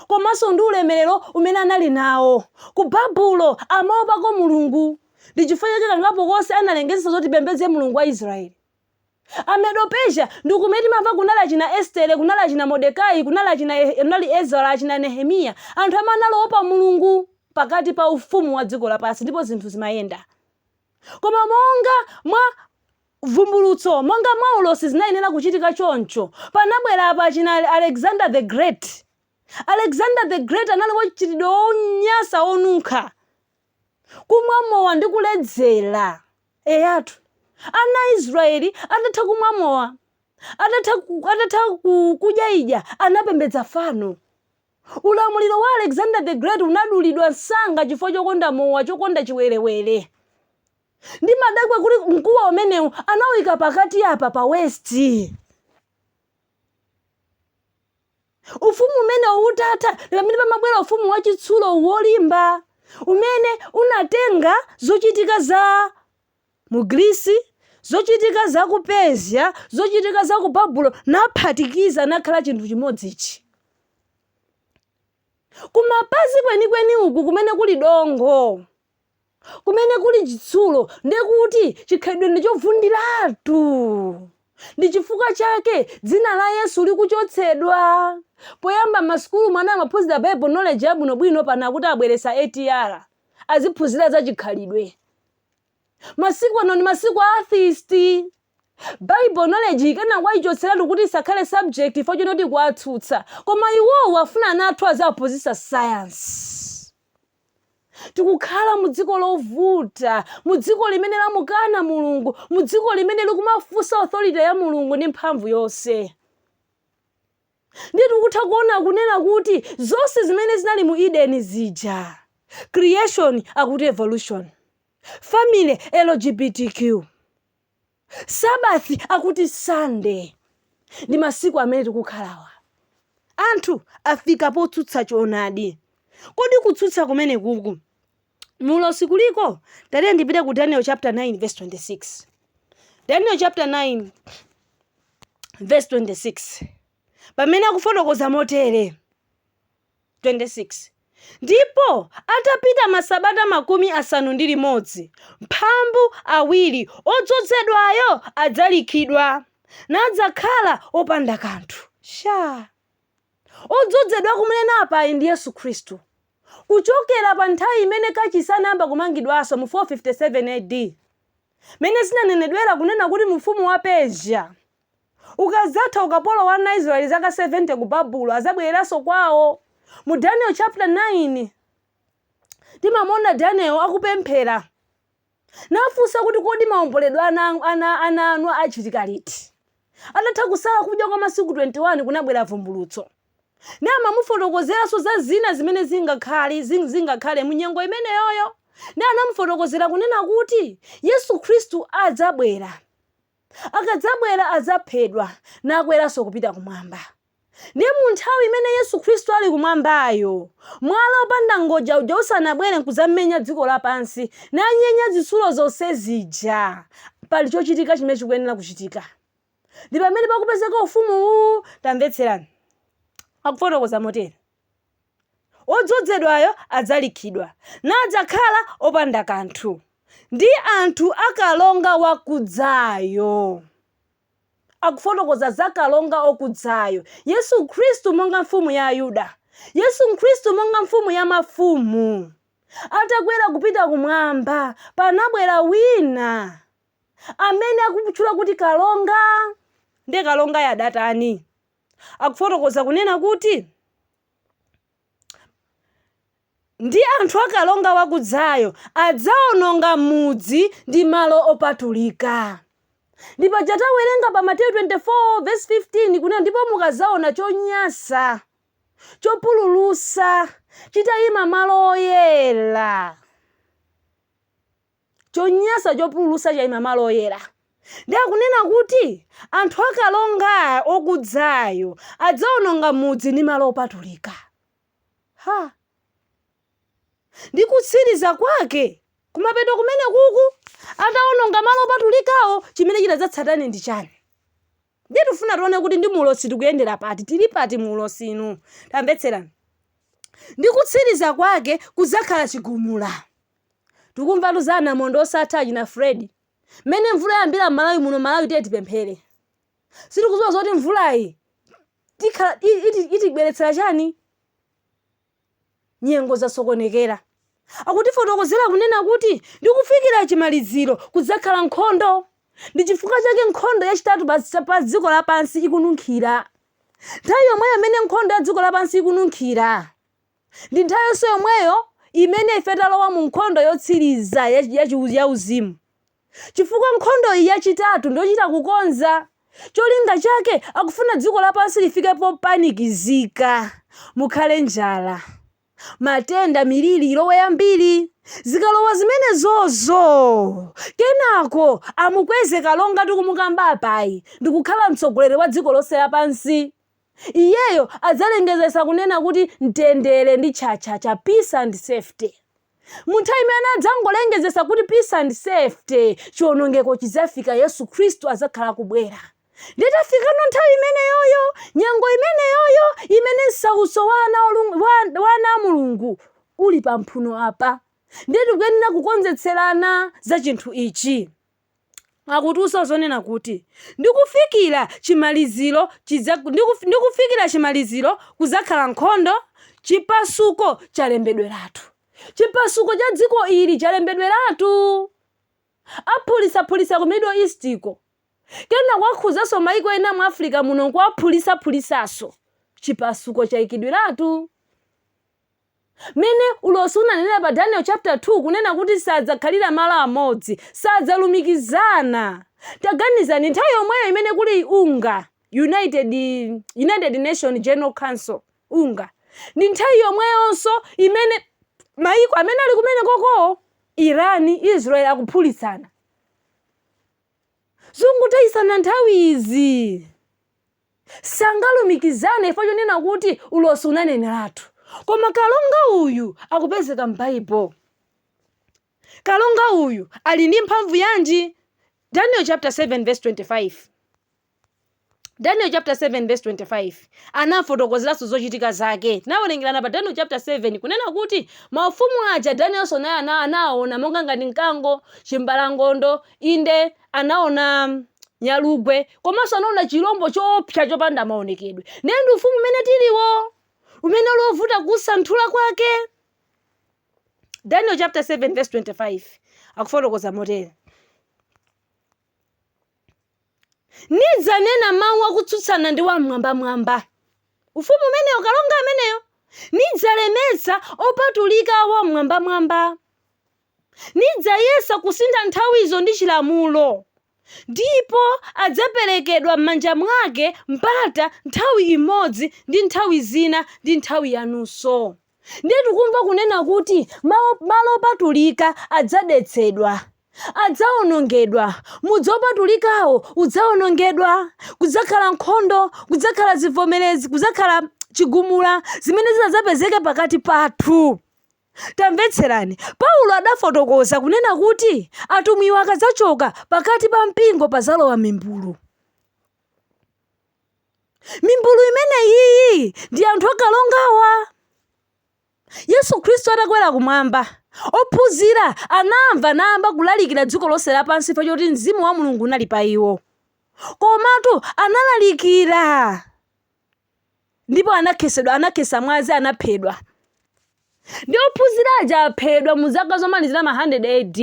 komanso ndi ulemerero umene anali nawo. Ku Babulo amaopako Mulungu. Ndi chifukwa chake kangapo konse analengezesa zoti tipembedze Mulungu wa Israel. A Medo-Persia ndi kumene timamva kunali achina Estere, kunali achina Modekai, kunali kunali Ezara, achina Nehemiya. Anthu amene anali oopa Mulungu pakati pa ufumu wa dziko lapansi ndipo zinthu zimayenda. Koma monga mwa vumbulutso, monga mwa ulosi zinayenera kuchitika choncho, panabwera apa achina Alexander the Great. Alexander the Great anali wa mchitidwe wonyansa wonunkha, kumwa mowa ndi kuledzera. Eyatu. Ana a Israeli atatha kumwa mowa, atatha, atatha kudyaidya, anapembedza fano. Ulamuliro wa Alexander the Great unadulidwa msanga chifukwa chokonda mowa, chokonda chiwerewere. Ndimadabwa kuti mkuwa umenewu anawuika pakati apa pa waist. Ufumu umenewu utatha, ndi pamene pamabwera ufumu wachitsulo wolimba umene unatenga zochitika za mu Grisi, zochitika za ku Persia, zochitika za ku Babulo, naphatikiza nakhala chinthu chimodzi ichi. Kumapazi kwenikweni uku kumene kuli dongo, kumene kuli chitsulo, ndiye kuti chikhalidwe ndi chovundiratu. Ndi chifukwa chake dzina la Yesu likuchotsedwa. Poyamba m'masukulu mwana amaphunzira Bible knowledge yabwinobwino pano akuti abweretsa ATR. Aziphunzira za chikhalidwe. masiku ano ndi masiku a atheist bible knowledge akanakwanitsa kuichotseratu kuti isakhale subject ifo chinoti kuwatsutsa koma iwowo afuna ana athu aziphunzitsa science tikukhala mu dziko lovuta mu dziko limene lamukana mulungu mu dziko limene likumafunsa authority ya mulungu ndi mphamvu yonse Ndiye tikutha kuona kunena kuti zonse zimene zinali mu Edeni zija, creation akuti evolution, family LGBTQ, Sabbath akuti Sunday ndi masiku amene tikukhalawa. Anthu afika potsutsa choonadi. Kodi kutsutsa kumenekuku mu ulosi kuliko tatiye ndipite ku daniel chapter 9 verse 26 daniel chapter 9 verse 26 pamene akufotokoza motere 26 ndipo atapita masabata makumi asanu ndi limodzi mphambu awiri wodzozedwayo adzalikhidwa nadzakhala opanda kanthu chake wodzozedwa akumunena apayu ndi yesu khristu Kuchokera pa nthawi imene kachisi anayamba kumangidwanso mu 457 AD, mmene zinanenedwera kunena kuti mfumu wa Persia, ukadzatha ukapolo wa ana a Israeli zaka 70 ku Babulo adzabwereranso kwawo. Mu Daniel chapter 9, timamuona Daniel akupemphera. Nafunsa kuti, Kodi maomboledwe a ana a ana a ana anu achitika liti? Atatha kusala kudya kwa masiku 21 kunabwera vumbulutso. Namamufotokozeranso za zina zimene zingakhale zing zingakhale mu nyengo imeneyoyo. Ndiye anamufotokozera kunena kuti Yesu Khristu adzabwera. Akadzabwera adzaphedwa nakweranso kupita kumwamba. Ndiye mu nthawi imene Yesu Khristu ali kumwambayo, mwala wopanda ngodya uja usanabwere n'kudzamenya dziko lapansi nanyenya zitsulo zonse zija, pali chochitika chimene chikuyenera kuchitika. Ndi pamene pakupezeka ufumu uwu. Tamvetserani. Akufotokoza motere. Wodzozedwayo adzalikhidwa, nadzakhala opanda kanthu ndi anthu a kalonga wakudzayo. Akufotokoza za kalonga okudzayo, Yesu Khristu monga Mfumu ya Ayuda, Yesu Khristu monga Mfumu ya mafumu. Atakwera kupita kumwamba, panabwera wina amene akumutchula kuti kalonga. Ndiye kalongayo adatani? akufotokoza kunena kuti, Ndi anthu a kalonga wakudzayo adzaononga mudzi ndi malo opatulika. Ndi paja tawerenga pa Mateyu 24 vesi 15 kunena, ndipo mukadzaona chonyansa chopululusa chitayima malo oyera. chonyansa chopululusa chaima malo oyera nde akunena kuti anthu a kalonga okudzayo adzaononga mudzi ndi malo opatulika ha! ndi kutsiliza kwake kumapeto kumenekuku ataononga malo opatulikawo chimene chidzatsatane ndi chani? Ndiye tifuna tione kuti ndi mu ulosi tikuyendera pati, tili pati mu ulosiwu. Tamvetserani. Ndi kutsiriza kwake kudzakhala chigumula. Tikumvatu za anamondwe osatha achina Freddy. Mmene mvula yayambira m'Malawi muno, Malawi tiye tipemphere. Sitikudziwa zoti mvulayi tikhala i- iti- itibweretsera chani. Nyengo zasokonekera. Akutifotokozera kunena kuti ndi kufikira chimaliziro kudzakhala nkhondo. Ndi chifukwa chake nkhondo yachitatu pa, pa dziko lapansi ikununkhira. Nthawi yomweyo imene nkhondo ya dziko lapansi ikununkhira ndi nthawi yonse yomweyo imene ife talowa mu nkhondo yotsiriza ya, ya, ya uzimu. Chifukwa nkhondo iyi yachitatu ndiyochita kukonza. Cholinga chake akufuna dziko lapansi lifike popanikizika, mukhale njala, matenda, miliri ilowe yambiri. Zikalowa zimenezozo, kenako amukweze kalonga tikumukamba apayi ndikukhala mtsogoleri wa dziko lonse lapansi. Iyeyo adzalengezetsa kunena kuti mtendere ndi chacha, peace and safety. Mu nthawi imene adzangolengezetsa kuti peace and safety, chionongeko chidzafika Yesu Khristu adzakhala akubwera. Ndiye tafikano nthawi imeneyoyo, nyengo imeneyoyo imene msautso wa, wa ana a Mulungu uli pa mphuno apa. Ndiye tikuyenera kukonzetserana za chinthu ichi. akutiuzanso zonena kuti, ndi kufikira chimaliziro chidza, ndi, ndi kufikira chimaliziro kudzakhala nkhondo, chipasuko chalembedweratu. Chipasuko cha dziko ili chalembedweratu. Aphulitsaphulitsa ku Middle East uko. Kenako akhudzanso maiko ena mu Africa muno nkuwaphulitsaphulitsanso. Chipasuko chaikidweratu. Mmene ulosi unanenera pa Daniel chapter 2 kunena kuti sadzakhalira malo amodzi, sadzalumikizana. Taganizani, nthawi yomweyo imene kuli unga, United Nations General Council, unga, ndi nthawi yomweyonso imene mayiko amene ali kumenekoko, Iran, Israel, akuphulitsana. Zongotayitsana nthawi izi. sangalumikizane chifukwa chonena kuti ulosi unaneneratu. Koma kalonga uyu akupezeka m'Baibulo. Kalonga uyu ali ndi mphamvu yanji? Daniel chapter 7 verse 25 Daniel chapter 7 verse 25 anafotokozeranso zochitika zake. Tinawerengerana pa Daniel chapter 7 kunena kuti maufumu aja Danielnso naye anawaona monga ngati mkango, chimbalangondo, inde anaona nyalugwe komanso anaona chilombo choopsa chopanda maonekedwe ndiye ndi ufumu umene tiliwo umene uli wovuta kusanthula kwake daniel chapter 7 verse 25 akufotokoza motere nidzanena mawu akutsutsana ndi wamwambamwamba ufumu umenewo kalonga ameneyo nidzalemetsa opatulika a wamwambamwamba nidzayesa kusintha nthawizo ndi chilamulo, ndipo adzaperekedwa m'manja mwake mpata nthawi imodzi ndi nthawi zina ndi nthawi yanusu. Ndiye tikumva kunena kuti malo opatulika adzadetsedwa, adzawonongedwa, mudzi wopatulikawo udzawonongedwa, kudzakhala nkhondo, kudzakhala zivomerezi, kudzakhala chigumula zimene ziti zidzapezeke pakati pathu. Tamvetserani, Paulo adafotokoza kunena kuti atumwiwo akadzachoka, pakati pa mpingo padzalowa mimbulu. Mimbulu imeneyiyi ndi anthu akalongawa. Yesu Khristu atakwera kumwamba, ophunzira anamva anayamba kulalikira dziko lonse lapansi chifukwa choti mzimu wa Mulungu unali pa iwo. Komatu analalikira ndipo anakhesedwa anakhesa mwazi anaphedwa ndi ophunzira aja aphedwa mu zaka zomalizira ma 100 AD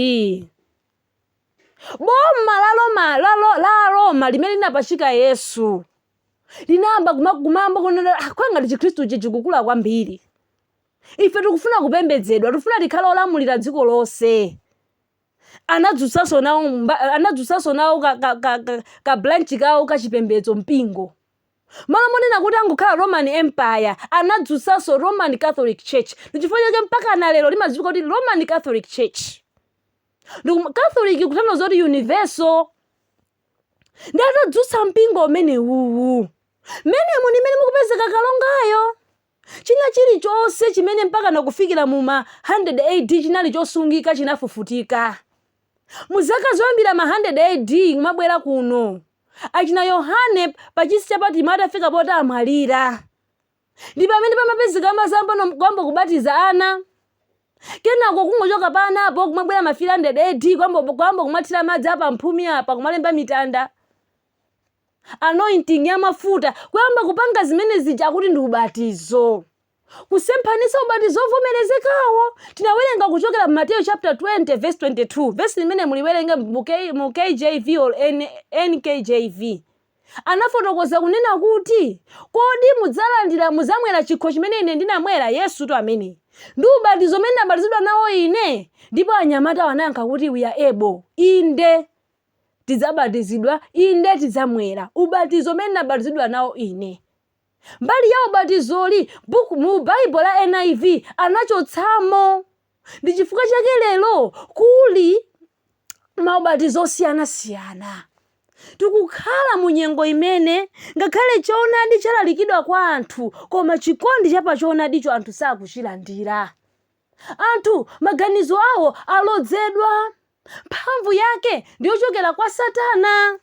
boma la Roma la, Ro- la Roma limene linapachika Yesu linayamba kuma- kumayamba kunena "Ah, ngati chikhristu ichi chikukula kwambiri ife tikufuna kupembedzedwa tikufuna tikhale olamulira dziko lonse anadzutsanso nawo ka, ka, ka, ka, ka branch kawo kachipembedzo mpingo M'malo monena kuti angokhala Roman Empire, anadzutsanso Roman Catholic Church. Ndi chifukwa chake mpakana lero limadziwika kuti Roman Catholic Church. Ndi kum- Catholic kutanthauza kuti universal. Ndi atadzutsa mpingo umenewuwu. M'menemu ndi mmene mukupezeka kalongayo. China chilichonse chimene mpakana kufikira mu ma 100 AD chinali chosungika chinafufutika. Mu zaka zoyambirira ma 100 AD kumabwera kuno achina Yohane pachisi cha Patimo atafika poti amwalira ndi pamene pamapezeka mazimbambo kuyamba kubatiza ana. Kenako kungochoka pa anapo kumabwera ma 300 AD kuyamba kumathira madzi apa mphumi apa kumalemba mitanda. Anointing ya mafuta, kuyamba kupanga zimene zija akuti ndi ubatizo. Kusemphanitsa ubatizo ovomerezekawo. Tinawerenga kuchokera mu Mateyu chapter 20 verse 22. Vesi limene muliwerenga mu, K, mu KJV or N, NKJV. Anafotokoza kunena kuti, kodi mudzalandira mudzamwera chikho chimene ine ndinamwera? Yesutu ameneyo. Ndi ubatizo umene ndinabatizidwa nawo ine? Ndipo anyamatawo anayankha kuti we are able. Inde. tidzabatizidwa, inde, tidzamwera ubatizo umene ndinabatizidwa nawo ine. Mbali ya ubatizoyi mu Baibulo la NIV anachotsamo. Ndi chifukwa chake lero kuli maubatizo osiyanasiyana. Tikukhala mu nyengo imene ngakhale choonadi chalalikidwa kwa anthu, koma chikondi cha pa choonadicho anthu sakuchilandira. Anthu maganizo awo alodzedwa. mphamvu yake ndi yochokera kwa Satana.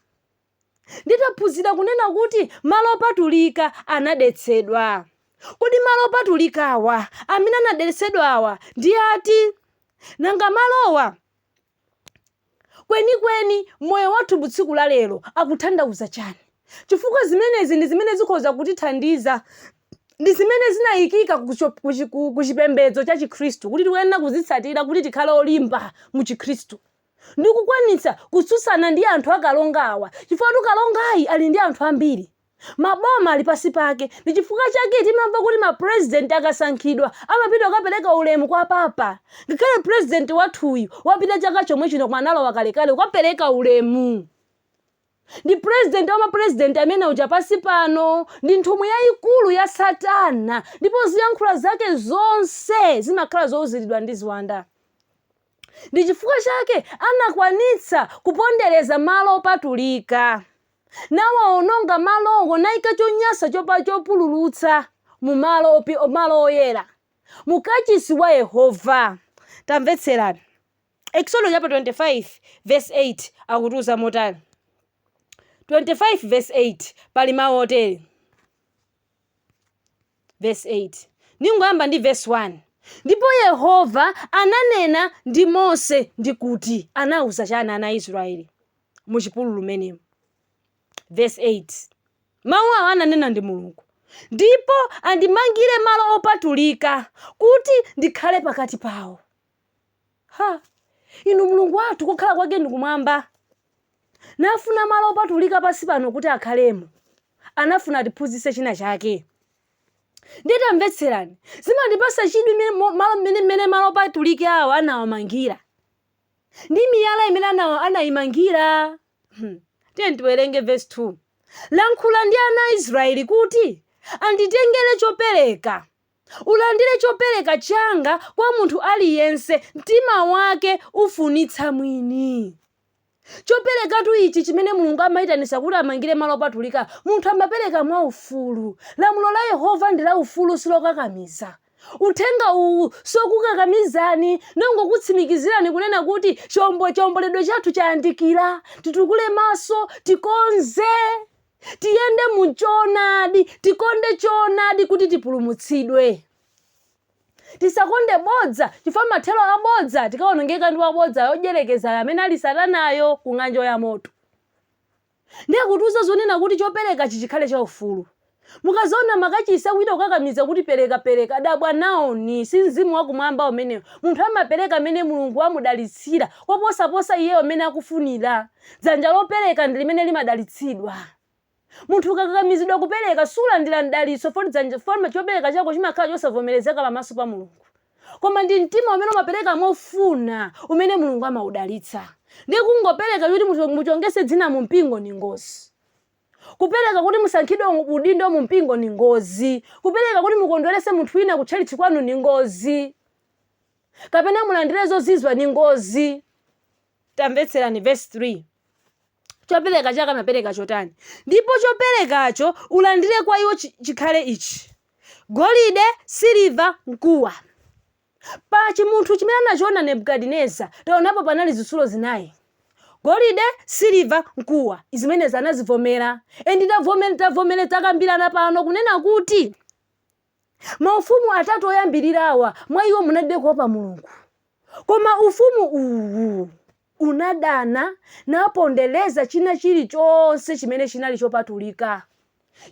Ndiye taphunzira kunena kuti malo opatulika anadetsedwa. Kodi malo opatulikawa amene anadetsedwawa ndi ati? Nanga malowa kwenikweni moyo wathu wa tsiku la lero akuthandauza chani? Chifukwa zimenezi ndi zimene zikhoza kutithandiza ndi zimene zinayikika ku cho- ku chi- ku- ku chipembedzo cha chikhristu kuti tikuyenera kuzitsatira kuti tikhale olimba mu chikhristu ndi kukwanitsa kutsutsana ndi anthu akalonga awa chifukwa kalongayi ali ndi anthu ambiri maboma ali pansi pake ndi chifukwa chake timamva kuti mapurezidenti akasankhidwa amapita kukapereka ulemu kwa papa ngakhale purezidenti wathuyu wapita chaka chomwe chino koma analowa kalekale kukapereka ulemu Ndi Purezidenti wa mapurezidenti amene uja pansi pano, ndi nthumwi yaikulu ya Satana, ndipo ziyankhula zake zonse zimakhala zouziridwa ndi ziwanda. Ndi chifukwa chake anakwanitsa kupondereza malo opatulika, nawaononga malowo, naika chonyasa chopa chopululutsa mu malo opi, malo oyera, mu kachisi wa Yehova. Tamvetserani. Eksodo chaputala 25 vesi 8 akutiuza motani? 25 vesi 8 pali mawu otere, vesi 8 ndingoyamba ndi vesi 1 ndipo yehova ananena ndi mose ndi kuti anauza chani ana a israeli mu chipululu menemo vesi 8 mawu awo ananena ndi mulungu ndipo andimangire malo opatulika kuti ndikhale pakati pawo ha inu mulungu wathu kukhala kwake ndi kumwamba nafuna malo opatulika pansi pano kuti akhalemo anafuna atiphunzitse china chake ndiye tamvetserani zimandipasa chidwi mmene- mo- malo mmene mmene malo opatulika awo anawamangira ndi miyala imene ana- anayimangira Hmm. tiyeni tiwerenge verse 2 lankhula ndi ana a israeli kuti anditengere chopereka Ulandire chopereka changa kwa munthu aliyense mtima wake ufunitsa mwini. Choperekatu ichi chimene Mulungu amaitanitsa kuti amangire malo opatulika, munthu amapereka mwa ufulu. Lamulo la Yehova ndi la ufulu silokakamiza. Uthenga uwu sokukakamizani, ndongokutsimikizirani kunena kuti chiombo chiomboledwe chathu chayandikira, titukule maso, tikonze. Tiyende mu choonadi, tikonde choonadi kuti tipulumutsidwe. Tisakonde bodza chifukwa mathero a bodza tikawonongeka ndi wabodza mdyerekezi amene ali satanayo ku ng'anjo ya moto. Ndiye akutiuza zonena kuti choperekachi chikhale chaufulu. Mukazaona ma church akuchita kukakamiza kuti pereka pereka, dabwa naoni, si mzimu wa kumwamba umenewo. Munthu amapereka amene Mulungu wamudalitsa koposaposa iyeyo mmene akufunira. Dzanja lopereka ndi limene limadalitsidwa. Munthu ukakakamizidwa kupereka, sulandira mdalitso foti dzanja foti chopereka chako chimakhala chosavomerezeka pamaso pa Mulungu. Koma ndi mtima umene umapereka mofuna umene Mulungu amaudalitsa. Ndiye kungopereka kuti mucho- mutchukitse dzina mu mpingo ndi ngozi. Kupereka kuti musankhidwe u- udindo mu mpingo ndi ngozi. Kupereka kuti mukondwerese munthu wina ku tchalitchi kwanu ndi ngozi. Kapena mulandire zozizwa ndi ngozi. Tamvetserani vesi 3. Chopereka chake amapereka chotani? Ndipo choperekacho ulandire kwa iwo chi- chikhale ichi, golide, siliva, mkuwa. Pa chimunthu chimene anachiona Nebukadineza, taonapo panali zitsulo zinayi. golide siliva mkuwa zimenezi anazivomera endi tavomere tavomere takambirana pano kunena kuti Maufumu atatu oyambirirawa, mwa iwo munalibe kuopa Mulungu. Koma ufumu uwu unadana napondereza china chilichonse chimene chinali chopatulika,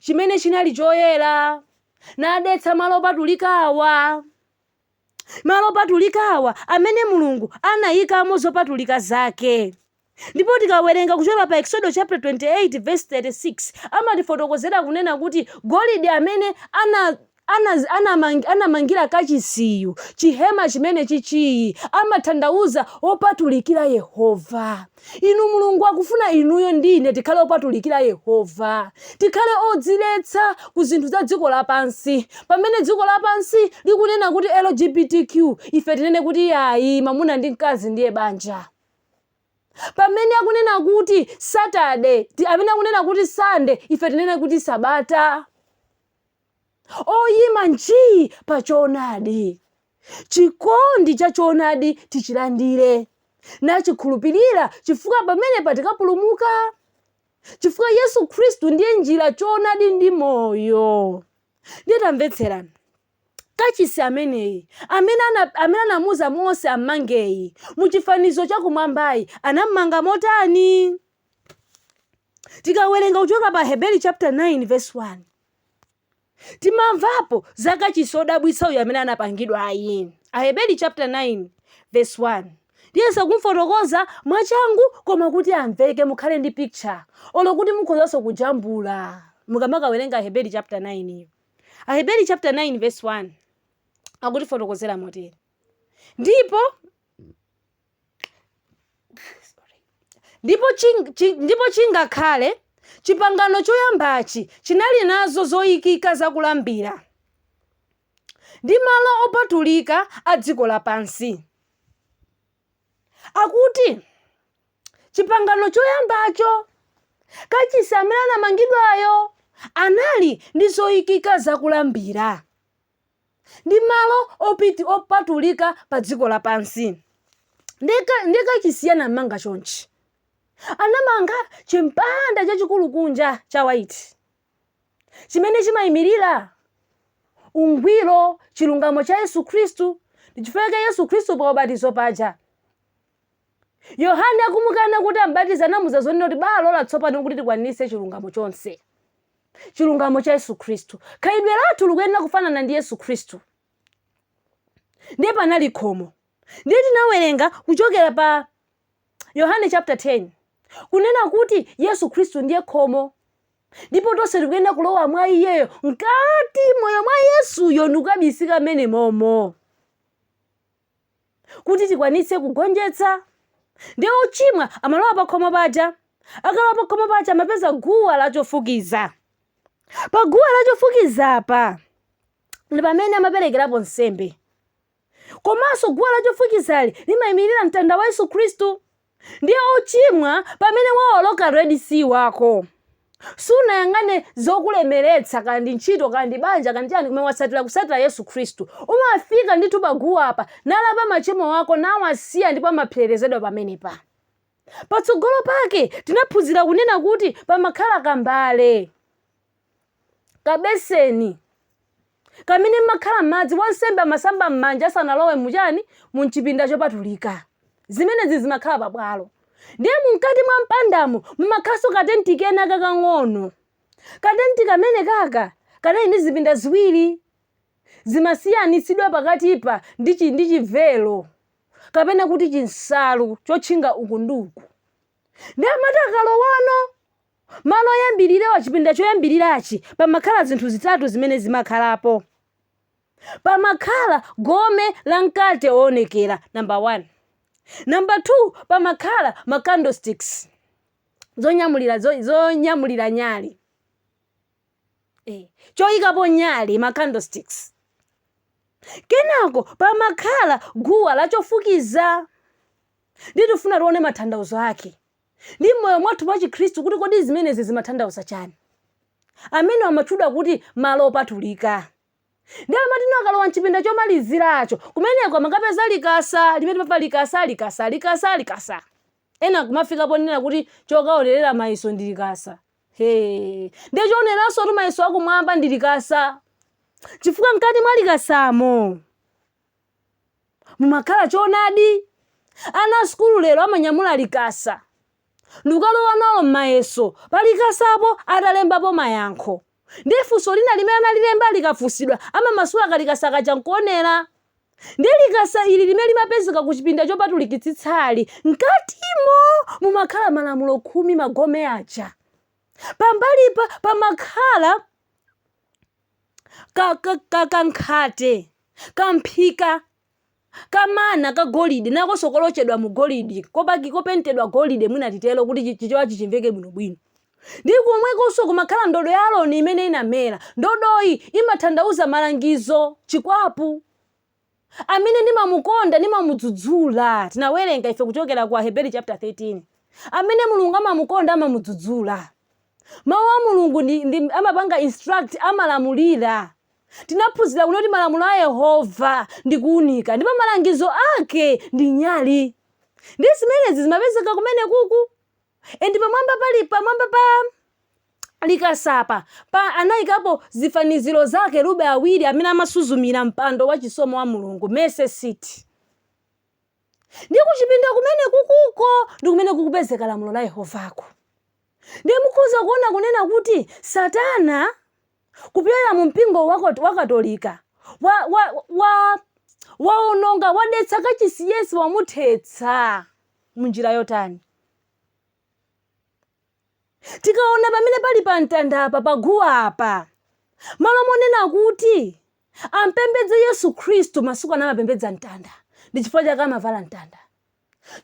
chimene chinali choyera, nadetsa malo opatulikawa. malo opatulikawa amene Mulungu anayikamo zopatulika zake. Ndipo tikawerenga kuchokera pa Eksodo chaputala 28 vesi 36 amatifotokozera kunena kuti golide amene ana ana anamang, anamangira kachisiyu chihema chimene chichiyi amathandauza opatulikira Yehova. Inu Mulungu akufuna inuyo ndi ine tikhale opatulikira Yehova, tikhale odziletsa ku zinthu za dziko lapansi. Pamene dziko lapansi likunena kuti LGBTQ, ife tinene kuti yayi, mamuna ndi mkazi ndiye banja. Pamene akunena kuti Saturday, ti- amene akunena kuti Sunday, ife tinene kuti Sabata. oyima nji pa choonadi chikondi cha choonadi tichilandire nachikhulupirira chifukwa pamenepa tikapulumuka chifukwa yesu khristu ndiye njira choonadi ndi moyo ndiye tamvetserani kachisi ameneyi amene ana- amene anamuuza mose ammangeyi mu chifanizo chakumwambayi anammanga motani tikawerenga kuchoka pa heberi chapter 9 verse 1 timamvapo za kachisi odabwitsa uyu amene anapangidwa ayi aheberi chapter 9 verse 1 ndiyesa kumfotokoza mwachangu koma kuti amveke mukhale ndi picture olo kuti mukhozanso kujambula mukamakawerenga aheberi chapter 9 yo aheberi chapter 9 verse 1 akutifotokozera motere ndipo ndipo ching- chi- ndipo chingakhale chipangano choyambachi chinali nazo zoyikika za kulambira ndi malo opatulika a dziko lapansi akuti chipangano choyambacho kachisi amene anamangidwayo anali ndi zoyikika za kulambira ndi malo opiti opatulika pa dziko lapansi ndiye kachisi anamanga chonchi anamanga chimpanda chachikulu kunja cha white chimene chimayimirira ungwiro chilungamo cha yesu khristu ndichifukwa chake yesu khristu pa ubatizo paja yohane akumukana kuti ambatize anamuza zonena kuti balola tsopano kuti tikwanitse chilungamo chonse chilungamo cha yesu khristu khalidwe lathu likuyenera kufanana ndi yesu khristu ndiye panali khomo ndiye tinawerenga kuchokera pa yohane chapter 10 kunena kuti yesu khristu ndiye khomo ndipo tonse tikuyenera kulowa mwa iyeyo mkati moyo mwa yesuyo ndikukabisika mmene momo kuti tikwanitse kugonjetsa. Ndiye wochimwa amalowa pakhomo paja. Akalowa pakhomo paja amapeza guwa la chofukiza. Pa guwa la chofukiza apa ndi pamene amaperekerapo nsembe. Komanso guwa la chofukizali limayimirira mtanda wa Yesu Khristu. Ndiye ochimwa pamene waoloka red sea wako sunayang'ane zokulemeretsa kaya ndi ntchito kaya ndi banja kaya ndi chani koma watsatira kutsatira Yesu Khristu umafika ndithu pa guwa apa nalapa machimo ako nawasiya ndipo amapserezedwera pamenepa. Patsogolo pake tinaphunzira kunena kuti pamakhala kambale. kabeseni kamene mmakhala madzi, wansembe amasamba m'manja asanalowe muchani, mumchipinda chopatulika. Zimenezi zimakhala pabwalo. Ndiye mumkati mwa mpandamo mumakhalanso katenti kena kakang'ono. Katenti kamene kaka kanali ndi zipinda ziwiri. Zimasiyanitsidwa pakatipa ndi chi ndi chivelo kapena kuti chinsalu chotchinga uku ndi uku. ndiye amati akalowano malo oyambirirewa chipinda choyambirirachi pamakhala zinthu zitatu zimene zimakhalapo pamakhala gome la mkate woonekera namba 1 namba 2 pamakhala ma candlesticks zonyamulira zo- zonyamulira nyali eh, choyikapo nyali ma candlesticks kenako pamakhala guwa lachofukiza Nditufuna tione mathandauzo ake ndi m'moyo mwathu wa chikhristu kuti kodi zimenezi zimathandauza chani amene amatchudwa kuti malo opatulika ndiye amatino akalowa mchipinda chomaliziracho kumeneko amakapeza likasa limene papa likasa likasa likasa likasa ena kumafika ponena kuti chokaonerera mayeso ndi likasa he ndiye choioneranso kuti mayeso akumwamba ndi likasa chifukwa mkati mwa likasamo mumakhala choonadi. Ana a sukulu lero amanyamula likasa ndikukalowa nalo mmayeso, palikasapo atalembapo mayankho ndiye funso lina limene analilemba likafunsidwa amamasula kalikasa kaja nkuonera. Ndiye likasa ili limene limapezeka kuchipinda chopatulikitsitsali, mkatimo mumakhala malamulo khumi, magome aja. Pambalipa pamakhala. ka, ka, ka, kankhate kamphika kamana ka golide nakonso kolochedwa mu golide kopaki kopentedwa golide mwina titero kuti chi- chichewachi chimveke bwinobwino ndi kumwekonso kumakhala ndodo ya aroni imene inamera ndodoyi imathandauza malangizo chikwapu amene ndimamukonda, ndimamudzudzula. Tinawerenga ife kuchokera ku Aheberi chapter 13. Amene Mulungu amamukonda amamudzudzula. Mawu a Mulungu ndi, ndi amapanga instruct, amalamulira. Tinaphunzira kuno kuti malamulo a Yehova ndi kuunika ndipo malangizo ake ndi nyali. Ndi zimenezi zimapezeka kumene kuku and pamwamba pali pamwamba pa likasapa pa anayikapo zifaniziro za akerubi awiri amene amasuzumira mpando wa chisomo wa mulungu mercy seat ndi kuchipinda kumenekukuko ndi kumene kukupezeka lamulo la yehovako ndiye mukhoza kuona kunena kuti satana kupyolera mu mpingo wa Kat- wa katolika wa, wa, wa, waononga wadetsa kachisi yense wamuthetsa munjira yotani? Tikaona pamene pali pa mtanda apa pa guwa apa, m'malo monena kuti ampembedze Yesu Khristu masiku ano amapembedza mtanda ndi chifukwa chake amavala mtanda.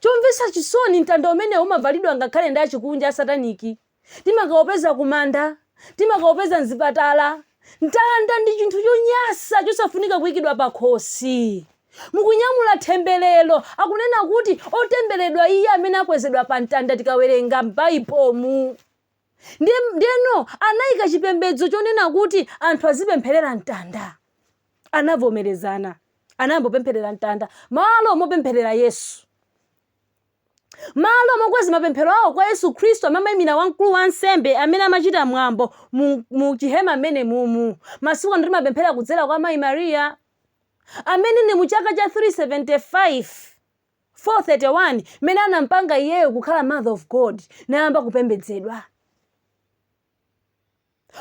Chomvetsa chisoni mtanda umenewu umavalidwa ngakhale ndi achikunja asataniki Timakaupeza kumanda. Timakaupeza m'zipatala. Mtanda ndi chinthu chonyasa chosafunika kuikidwa pakhosi. Mukunyamula thembelero, akunena kuti, otembereredwa iye amene akwezedwa pa mtanda tikawerenga m'Baibomu. Ndiye, ndiyeno anaika chipembedzo chonena kuti anthu azipempherera mtanda. Anavomerezana. Anayamba kupempherera mtanda. Malo mopempherera Yesu. M'malo mokweza mapemphero awo kwa Yesu Kristu amene amaimira wamkulu wansembe amene amachita mwambo mu, mu chihema m'menemumu, masiku ano timapemphera kudzera kwa Mayi Mariya, amene ndi mu chaka cha 375, 431 mmene anampanga iyeyo kukhala Mother of God nayamba kupembedzedwa.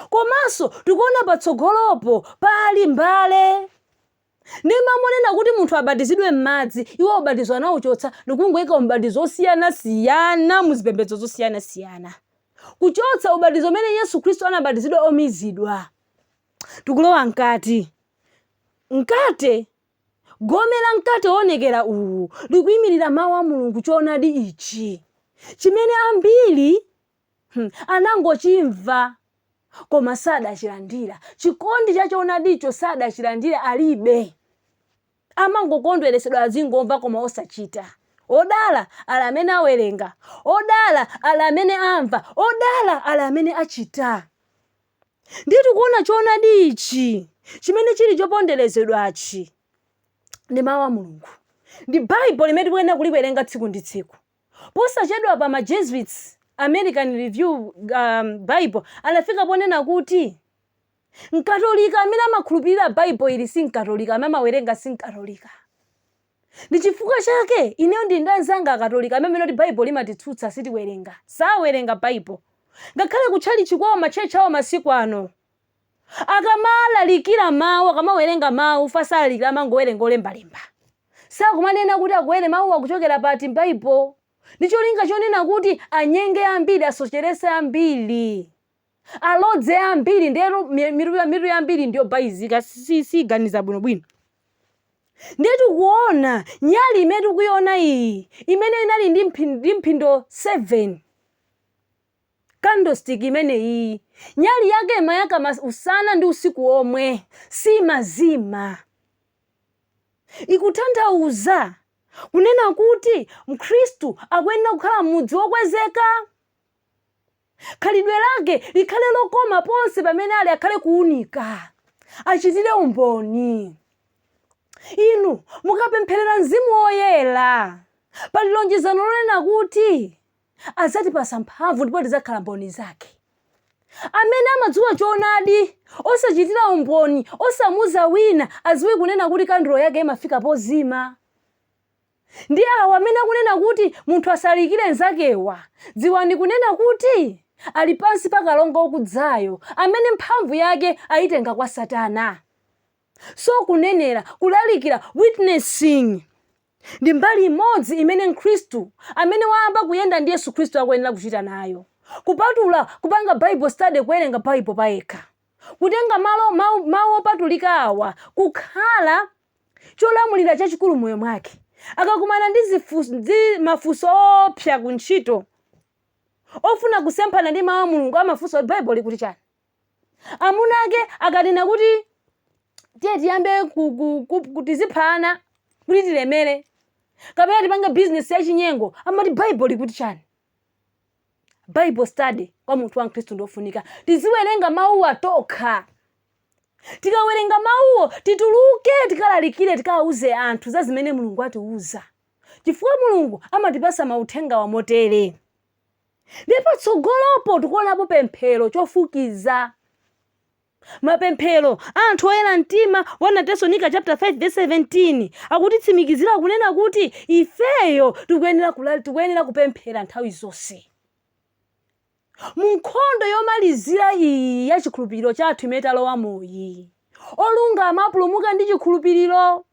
Komanso tikuona patsogolopo pali mbale. Ndiye m'malo monena kuti munthu abatizidwe m'madzi, iwo ubatizo anauchotsa ndi kungoika ubatizo wosiyanasiyana mu zipembedzo zosiyanasiyana, kuchotsa ubatizo umene Yesu Khristu anabatizidwa womizidwa. Tikulowa mkati. Mkate, gome la mkate woonekera uwu likuimirira Mawu a Mulungu, choonadi ichi chimene ambiri anangochimva koma sadachilandira. Chikondi cha choonadicho sadachilandira alibe. Amangokondweretsedwa azingomva koma osachita. Odala ali amene awerenga, odala ali amene amva, odala ali amene achita. Ndiye tikuona choonadi ichi chimene chili choponderezedwachi ndi mawu a Mulungu. Ndi Bible limene tikuyenera kuliwerenga tsiku ndi tsiku. Posachedwapa ma Jesuits, American Review um, Bible, anafika ponena kuti Mkatolika amene amakhulupirira Bible ili si Mkatolika, amene amawerenga si Mkatolika. Ndi chifukwa chake ineyo ndili ndi anzanga Akatolika amene amanena kuti Bible limatitsutsa sitiwerenga, sawerenga Bible. Ngakhale kutchalitchi kwawo matchalitchi awo masiku ano Akamalalikira Mawu, akamawerenga Mawu, fa salalikira amangowerenga olembalemba. Sakumanena kuti akuwere Mawuwa kuchokera pati m'Baibo. Ndi cholinga chonena kuti anyenge ambiri, asocheretse ambiri, alodze ambiri. Ndiye mi- mitu ya- mitu yambiri ndi yobalalika, si- si- siganiza bwinobwino. Ndiye tikuona nyali imene tikuiona iyi, imene inali ndi mphi- ndi mphindo 7. Candlestick imene iyi, nyali yake imayaka mas, usana ndi usiku womwe, siimazima. Ikuthanthauza kunena kuti Mkhristu akuyenera kukhala m'mudzi wokwezeka. Khalidwe lake likhale lokoma ponse pamene ali akhale kuunika. Achitire umboni. Inu mukapempherera Mzimu Woyera, pali lonjezano lonena kuti. adzatipatsa mphamvu ndipo tidzakhala mboni zake. Amene amadziwa choonadi, osachitira umboni, osamuuza wina, adziwe kunena kuti kandulo yake imafika pozima. Ndi awa amene akunena kuti munthu asalalikire mnzake awa, dziwani kunena kuti ali pansi pa kalonga okudzayo, amene mphamvu yake ayitenga kwa Satana. So kunenera, kulalikira, witnessing, Ndi mbali imodzi imene Mkristu amene wayamba kuyenda ndi Yesu Kristu akuyenera kuchita nayo. Kupatula kupanga Bible study kuwerenga Bible payekha. Kutenga malo mau, mau opatulika awa kukhala cholamulira chachikulu mmoyo mwake. Akakumana ndi, zifu, ndi mafunso oopsa ku ntchito ofuna kusemphana ndi mau a Mulungu amafunsa kuti Bible likuti chani. amuna ake akanena kuti tiye tiyambe ku- ku- ku- ku- tizipha ana kuti tilemere kapena tipange bizinesi yachinyengo amati baibo likuti chani bible study kwa munthu wa mkhristu ndiofunika tiziwerenga mawuwa tokha tikawerenga mawuwo tituluke tikalalikire tikawuze anthu za zimene mulungu atiwuza chifukwa mulungu amatipasa mauthenga amotere ndiye patsogolopo tikuonapo pemphero chofukiza mapemphero a anthu oyera mtima 1 atesalonika chapter 5 verse 17 akutitsimikizira kunena kuti ifeyo tikuyenera kula- tikuyenera kupemphera nthawi zonse mu nkhondo yomalizira iyi ya chikhulupiriro chathu imene talowamoyi olungama apulumuka ndi chikhulupiriro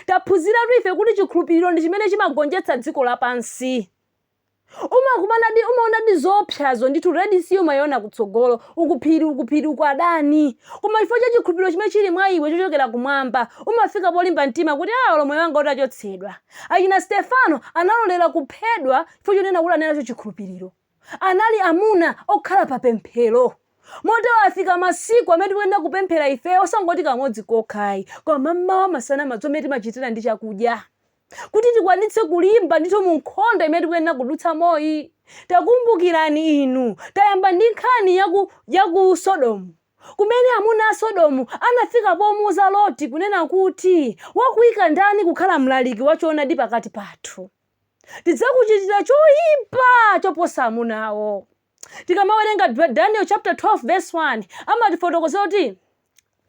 taphunziratu ife kuti chikhulupiriro ndi chimene chimagonjetsa dziko lapansi umakumanadi umaonadi zoopsazo ndithu red sea umayiona kutsogolo uku phiri uku phiri uku adani koma chifukwa cha chikhulupiriro chimene chili mwa iwe chochokera kumwamba umafika polimba mtima kuti a olo moyo wanga utachotsedwa achina stefano analolera kuphedwa chifukwa chonena kuti anali nacho chikhulupiriro anali amuna okhala pa pemphero motero afika masiku amene tikuyenera kupemphera ifeyo osangoti kamodzi kokhayi koma mmawa masana madzulo mmene timachitira ndi chakudya kuti tikwanitse kulimba ndithu mu nkhondo imene tikuyenera kudutsamoyi takumbukirani inu tayamba ndi nkhani yaku yaku sodomu kumene amuna a sodomu anafika pomuuza loti kunena kuti wakuika ndani kukhala mlaliki wa choonadi pakati pathu tidzakuchitira choyipa choposa amunawo Tikamawerenga Da- Daniel chapter 12 verse 1 amatifotokozera kuti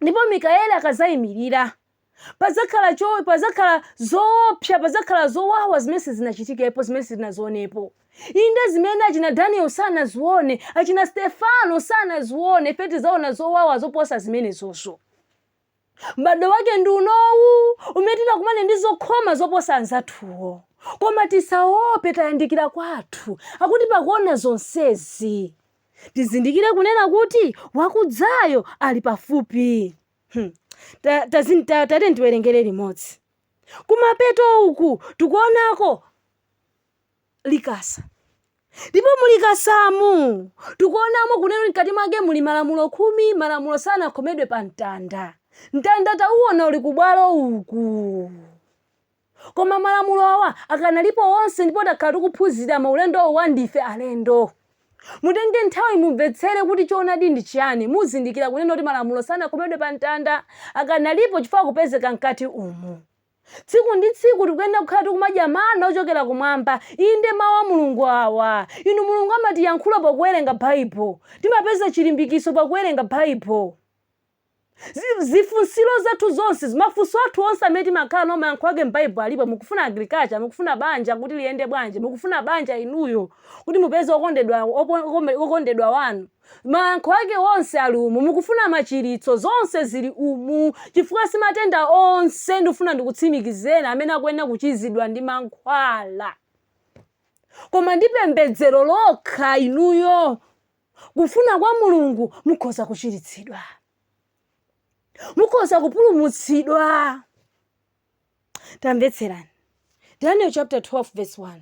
ndipo Mikaeli akadzayimirira padzakhala cho padzakhala zoopsa padzakhala zowawa zimene sizinachitikepo zimene sizinaonekepo inde zimene achina Daniel sanazione achina Stefano sanazione ife tidzaona zowawa zoposa zimenezozo M'badwo wake ndi unowu umene titakumane ndi zokhoma zoposa anzathuwo. Koma tisaope, tayandikira kwathu, akuti pakuona zonsezi, tizindikire kunena kuti wakudzayo ali pafupi. Hmm. Ta, tazin, ta, tateni tiwerengere limodzi. Kumapeto uku tikuonako likasa. Ndipo mu likasamu, tikuonamo kunena kuti mkati mwake muli Malamulo Khumi, Malamulo sanakhomedwe pa mtanda. Mtanda tauona uli ku bwalo uku. Koma Malamulo awa akanalipo onse ndipo takhala tikuphunzira mu ulendo wa ndife alendo. Mutenge nthawi mumvetsere kuti choonadi ndi chiyani, muzindikira kunena kuti Malamulo sanakhomedwe pa mtanda, akanalipo chifukwa akupezeka mkati umu. Tsiku ndi tsiku tikuyenera kukhala tikumadya mana ochokera kumwamba, inde mau a Mulungu awa. Inu Mulungu amatiyankhula pakuwerenga Baibulo. Timapeza chilimbikitso pakuwerenga Baibulo. Zi, zifunsiro zathu zonse, mafunso athu onse amene timakhala nawo mayankho ake m'Baibulo alipo. Mukufuna agriculture, mukufuna banja kuti liyende bwanji, mukufuna banja inuyo kuti mupeze okondedwa, opo, okome, okondedwa wanu. Mayankho ake onse ali umu. Mukufuna machiritso? Zonse ziri umu. Chifukwa, si matenda onse, ndikufuna ndikutsimikizeni, amene akuyenera kuchizidwa ndi mankhwala, koma ndi pembedzero lokha, inuyo, kufuna kwa Mulungu, mukhoza kuchiritsidwa. Mukhoza kupulumutsidwa. Tamvetserani. Daniel chapter 12 verse 1.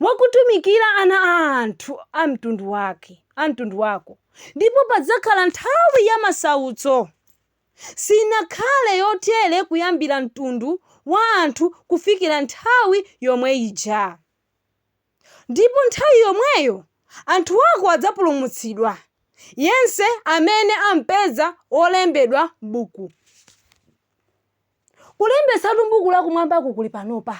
wakutumikira ana a anthu a mtundu wake a mtundu wako ndipo padzakhala nthawi ya masautso sinakhale yotere kuyambira mtundu wa anthu kufikira nthawi yomwe ija ndipo nthawi yomweyo anthu ako adzapulumutsidwa yense amene ampeza wolembedwa m'buku Kulembetsatu m'buku lakumwambako kuli panopa.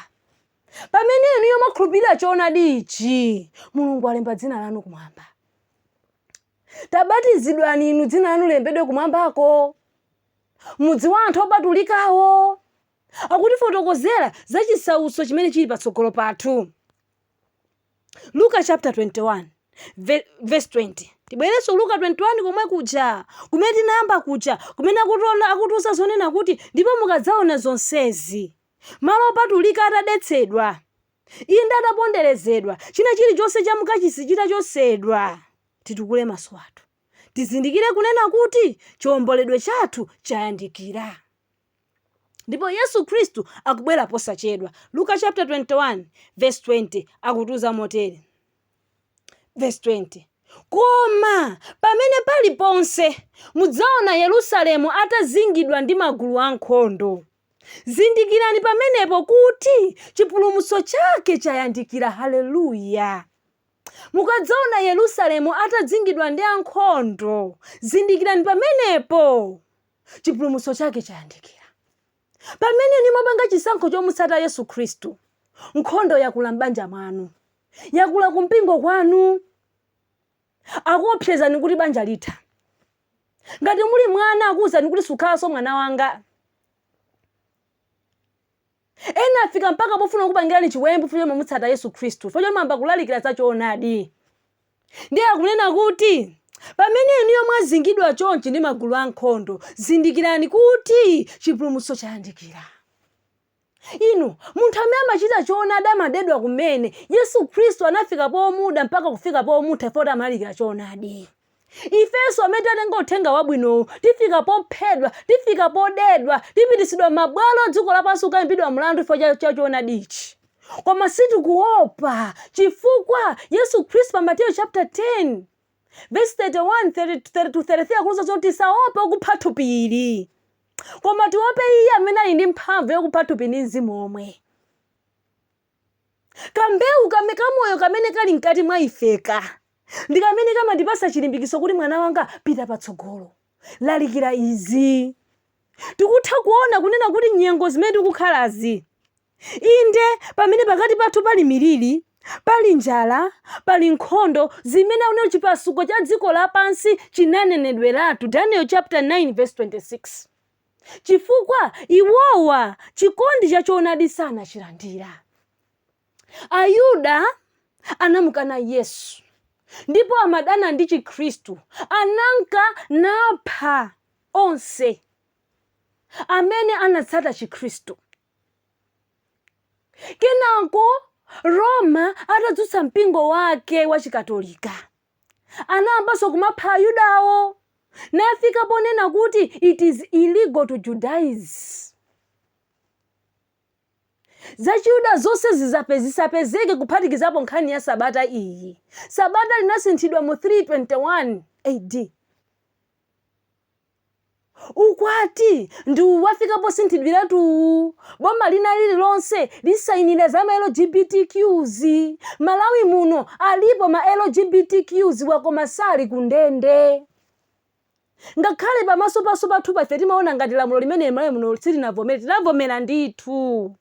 Pamene inuyo mwakhulupirira choonadi ichi, Mulungu alemba dzina lanu kumwamba. Tabatizidwani inu dzina lanu lilembedwe kumwambako. Mudzi wa anthu opatulikawo akutifotokozera za chisautso chimene chili patsogolo pathu. Luka chaputala 21 vesi 20 Tibwerenso Luka 21 komwe kuja, kumene tinayamba kuja, kumene akutiona, akutiuza zonena kuti, ndipo mukadzaona zonsezi, malo opatulika atadetsedwa, inde ataponderezedwa, china chilichonse cha mkachisi chitachotsedwa, titukule maso athu, tizindikire kunena kuti chiomboledwe chathu chayandikira. Ndipo Yesu Khristu akubwera posachedwa. Luka chaputala 21 vesi 20 akutiuza motere. Vesi 20, Koma pamene paliponse mudzaona Yerusalemu atazingidwa ndi magulu ankhondo, zindikirani pamenepo kuti chipulumutso chake chayandikira. Haleluya! Mukadzaona Yerusalemu atazingidwa ndi ankhondo, zindikirani pamenepo. chipulumutso chake chayandikira. Pamene inu mwapanga chisankho chomutsata Yesu Khristu, nkhondo yakula m'banja mwanu, yakula kumpingo kwanu, akuopsezani kuti banja litha. Ngati muli mwana akuwuzani kuti sukhalanso mwana wanga. Ena afika mpaka pofuna kukupangirani chiwembu chifukwa choti mwamutsata Yesu Khristu, chifukwa choti mwayamba kulalikira za choonadi. Ndiye akunena kuti, Pamene inuyo mwazingidwa chonchi ndi magulu ankhondo, zindikirani kuti chipulumutso chayandikira. Inu, munthu amene amachita choonadi amadedwa kumene. Yesu Khristu anafika pomuda mpaka kufika pomupha chifukwa choti amalalikira choonadi. ifenso amene tatenga uthenga wabwinowu tifika pophedwa tifika podedwa tipititsidwa mabwalo a dziko lapansi kukaimbidwa mlandu chifukwa cha choonadi ichi koma sitikuopa chifukwa yesu khristu pa mateyo chapter 10 verse 31 30 to 33 akutiuza zoti tisaope okupha thupi ili koma tiope iye amene ali ndi mphamvu yokupha thupi ndi mzimu omwe Kambewu kamoyo kamene kali mkati mwa ifeka ndi kamene kamandipasa chilimbikitso kuti mwana wanga pita patsogolo. Lalikira izi. Tikutha kuona kunena kuti nyengo zimene tikukhalazi, inde pamene pakati pathu pali milili, pali njala, pali nkhondo, zimene akunena kuti chipasuko cha dziko lapansi chinanenedweratu, Daniel chapter 9 verse 26. chifukwa iwowa chikondi cha choonadi sanachilandira. Ayuda anamukana Yesu ndipo amadana ndi Chikhristu, ananka napha onse amene anatsata Chikhristu. Kenako Roma atadzutsa mpingo wake wa Chikatolika, Anayambanso kumapha Ayudawo, nafika ponena kuti it is illegal to Judaize. Zachiyuda zonse zizape zisapezeke kuphatikizapo nkhani ya Sabata iyi. Sabata linasinthidwa mu 321 AD. Ukwati ndi uwu wafika posinthidwiratu uwu. Boma lina lililonse lisayinira za ma LGBTQs. Malawi muno alipo ma LGBTQs wa koma sali ku ndende. Ngakhale pamaso pathupa ife timaona ngati lamulo limeneli Malawi muno silinavomere, tinavomera ndithu.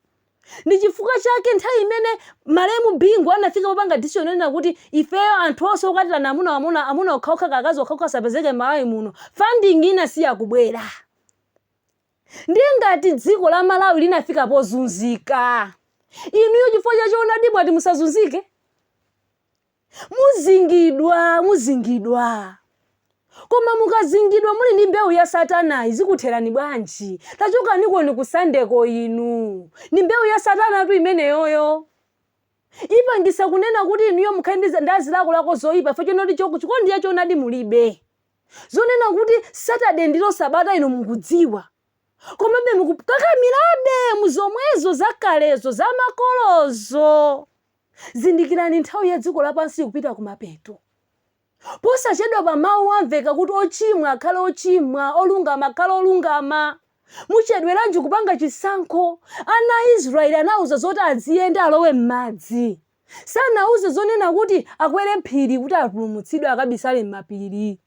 Ndi chifukwa chake nthawi imene malemu Bingu anafika popanga decision yonena kuti ifeyo anthu onse okwatirana amuna amuna okhaokha kaya akazi okhaokha asapezeke m'Malawi muno, funding inasiya kubwera. Ndiye ngati dziko la Malawi linafika pozunzika, inuyo chifukwa cha choonadi mwati musazunzike? Muzingidwa, muzingidwa. Koma mukazingidwa muli ndi mbewu ya satana izi zikutherani bwanji? Tachokanikoni ku Sunday ko inu. Ndi mbewu ya satanatu imeneyoyo. Ipangisa kunena kuti inuyo mukhale ndi zi- ndi zilakolako zoyipa chifukwa chonena kuti cho- chikondi cha choonadi mulibe. Zonena kuti Saturday ndilo sabata inu mukudziwa. Komabe mukukakamirabe mu zomwezo zakalezo zamakolozo. Zindikirani, nthawi ya dziko lapansi ikupita kumapeto. Posachedwapa Mawu amveka kuti, Ochimwa akhale ochimwa, olungama akhale olungama. Muchedweranji kupanga chisankho? Ana a Israeli anawauza zoti aziyenda alowe m'madzi. Sanauze zonena kuti akwere phiri kuti apulumutsidwe akabisale m'mapiri.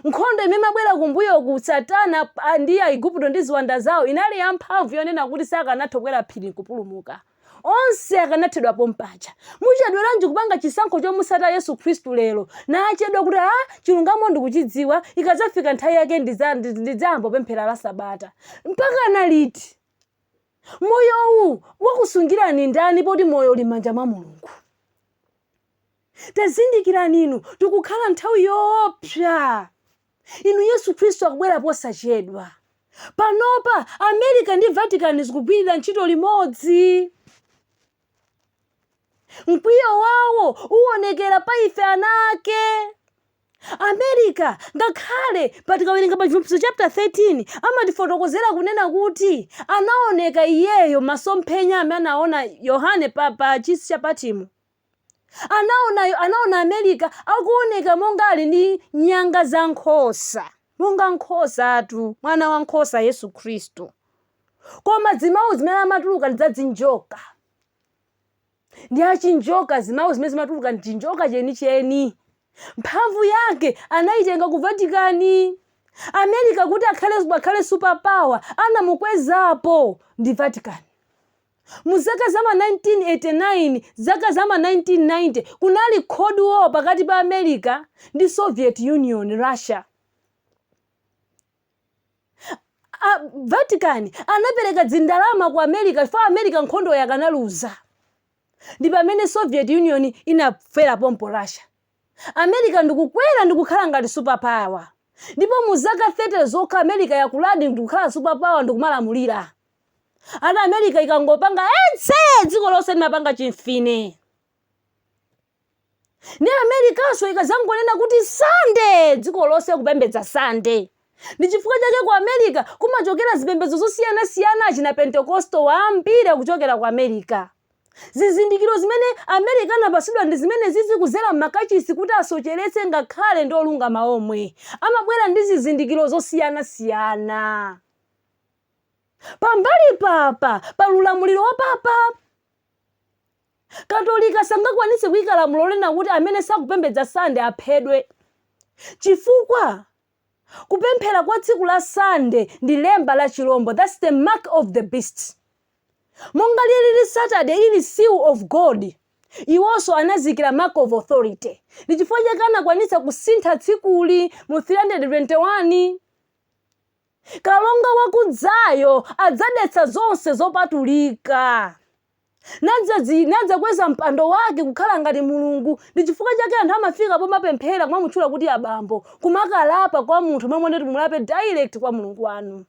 Nkhondo imene imabwera kumbuyoku, Satana a, ndi Aigupto ndi ziwanda zawo, inali yamphamvu yonena kuti sakanatha kukwera phiri n'kupulumuka. Onse akanathedwa pompaja. Muchedweranji kupanga chisankho chomutsata Yesu Khristu lero? Nachedwa kuti, ah, chilungamo ndikuchidziwa, ikadzafika nthawi yake ndidza- ndi- ndidzayamba kupemphera la Sabata. Mpakana liti? Moyowu wakusungirani ndani poti moyo uli m'manja mwa Mulungu? Tazindikirani inu, tikukhala m'nthawi yoopsa inu. Yesu Khristu akubwera posachedwa. Panopa, Amerika ndi Vatican zikugwirira ntchito limodzi. Mkwiyo wawo uwonekera pa ife ana ake. Amerika, ngakhale pa tikawerenga pa Chivumbulutso chapter 13, amatifotokozera kunena kuti anaoneka iyeyo m'masomphenya amene anaona Yohane pa, pa chisi cha Patimo. Anaona, anaona Amerika akuoneka monga ali ndi nyanga za nkhosa, monga nkhosatu, mwana wa nkhosa Yesu Khristu. Koma zimawu zimene amatuluka ndi za dzinjoka. Ndi achinjoka, zimawu zimene zimatuluka ndi chinjoka chenicheni. Mphamvu yake anayitenga ku Vatikani. Amerika kuti akhale, akhale superpower anamukwezapo ndi Vatikani. Mu zaka za ma 1989, zaka za ma 1990, kunali Cold War pakati pa America ndi Soviet Union, Russia. A Vatican anapereka dzindalama ku America chifukwa America nkhondoyo akanaluza. Ndi pamene Soviet Union inafera pompo Russia. America ndikukwera ndikukhala ngati super power ndipo mu zaka 30 zokha America yakuladi ndikukhala super power ndikumalamulira. Ati America ikangopanga etsee dziko lonse limapanga chimfine. Ndi Americanso ikazangonena kuti Sunday dziko lonse kupembedza Sunday. Ndi chifukwa chake ku Amerika kumachokera zipembedzo zosiyanasiyana, achina Pentecostal ambiri kuchokera ku Amerika. Zizindikiro zimene Amerika anapatsidwa ndi zimenezizi kudzera m'makachisi kuti asocheretse ngakhale ndi olungama omwe. Amabwera ndi zizindikiro zosiyanasiyana. Pambali pa papa, pa ulamuliro wa Papa. Katolika sangakwanitse kuika lamulo lonena kuti amene sakupembedza Sande aphedwe. Chifukwa? Kupemphera kwa tsiku la Sunday ndi lemba la chilombo, that's the mark of the beast. Monga lilili Saturday ili seal of God, iwonso anadziikira mark of authority. Ndi chifukwa chake anakwanitsa kusintha tsikuli mu 321. Kalonga wakudzayo adzadetsa zonse zopatulika. nadzazi, nadzakweza mpando wake kukhala ngati Mulungu. Ndi chifukwa chake anthu amafika pomapemphera kumamutchula kuti abambo, kumakalapa kwa munthu momwe ndoti mulape direct kwa Mulungu wanu.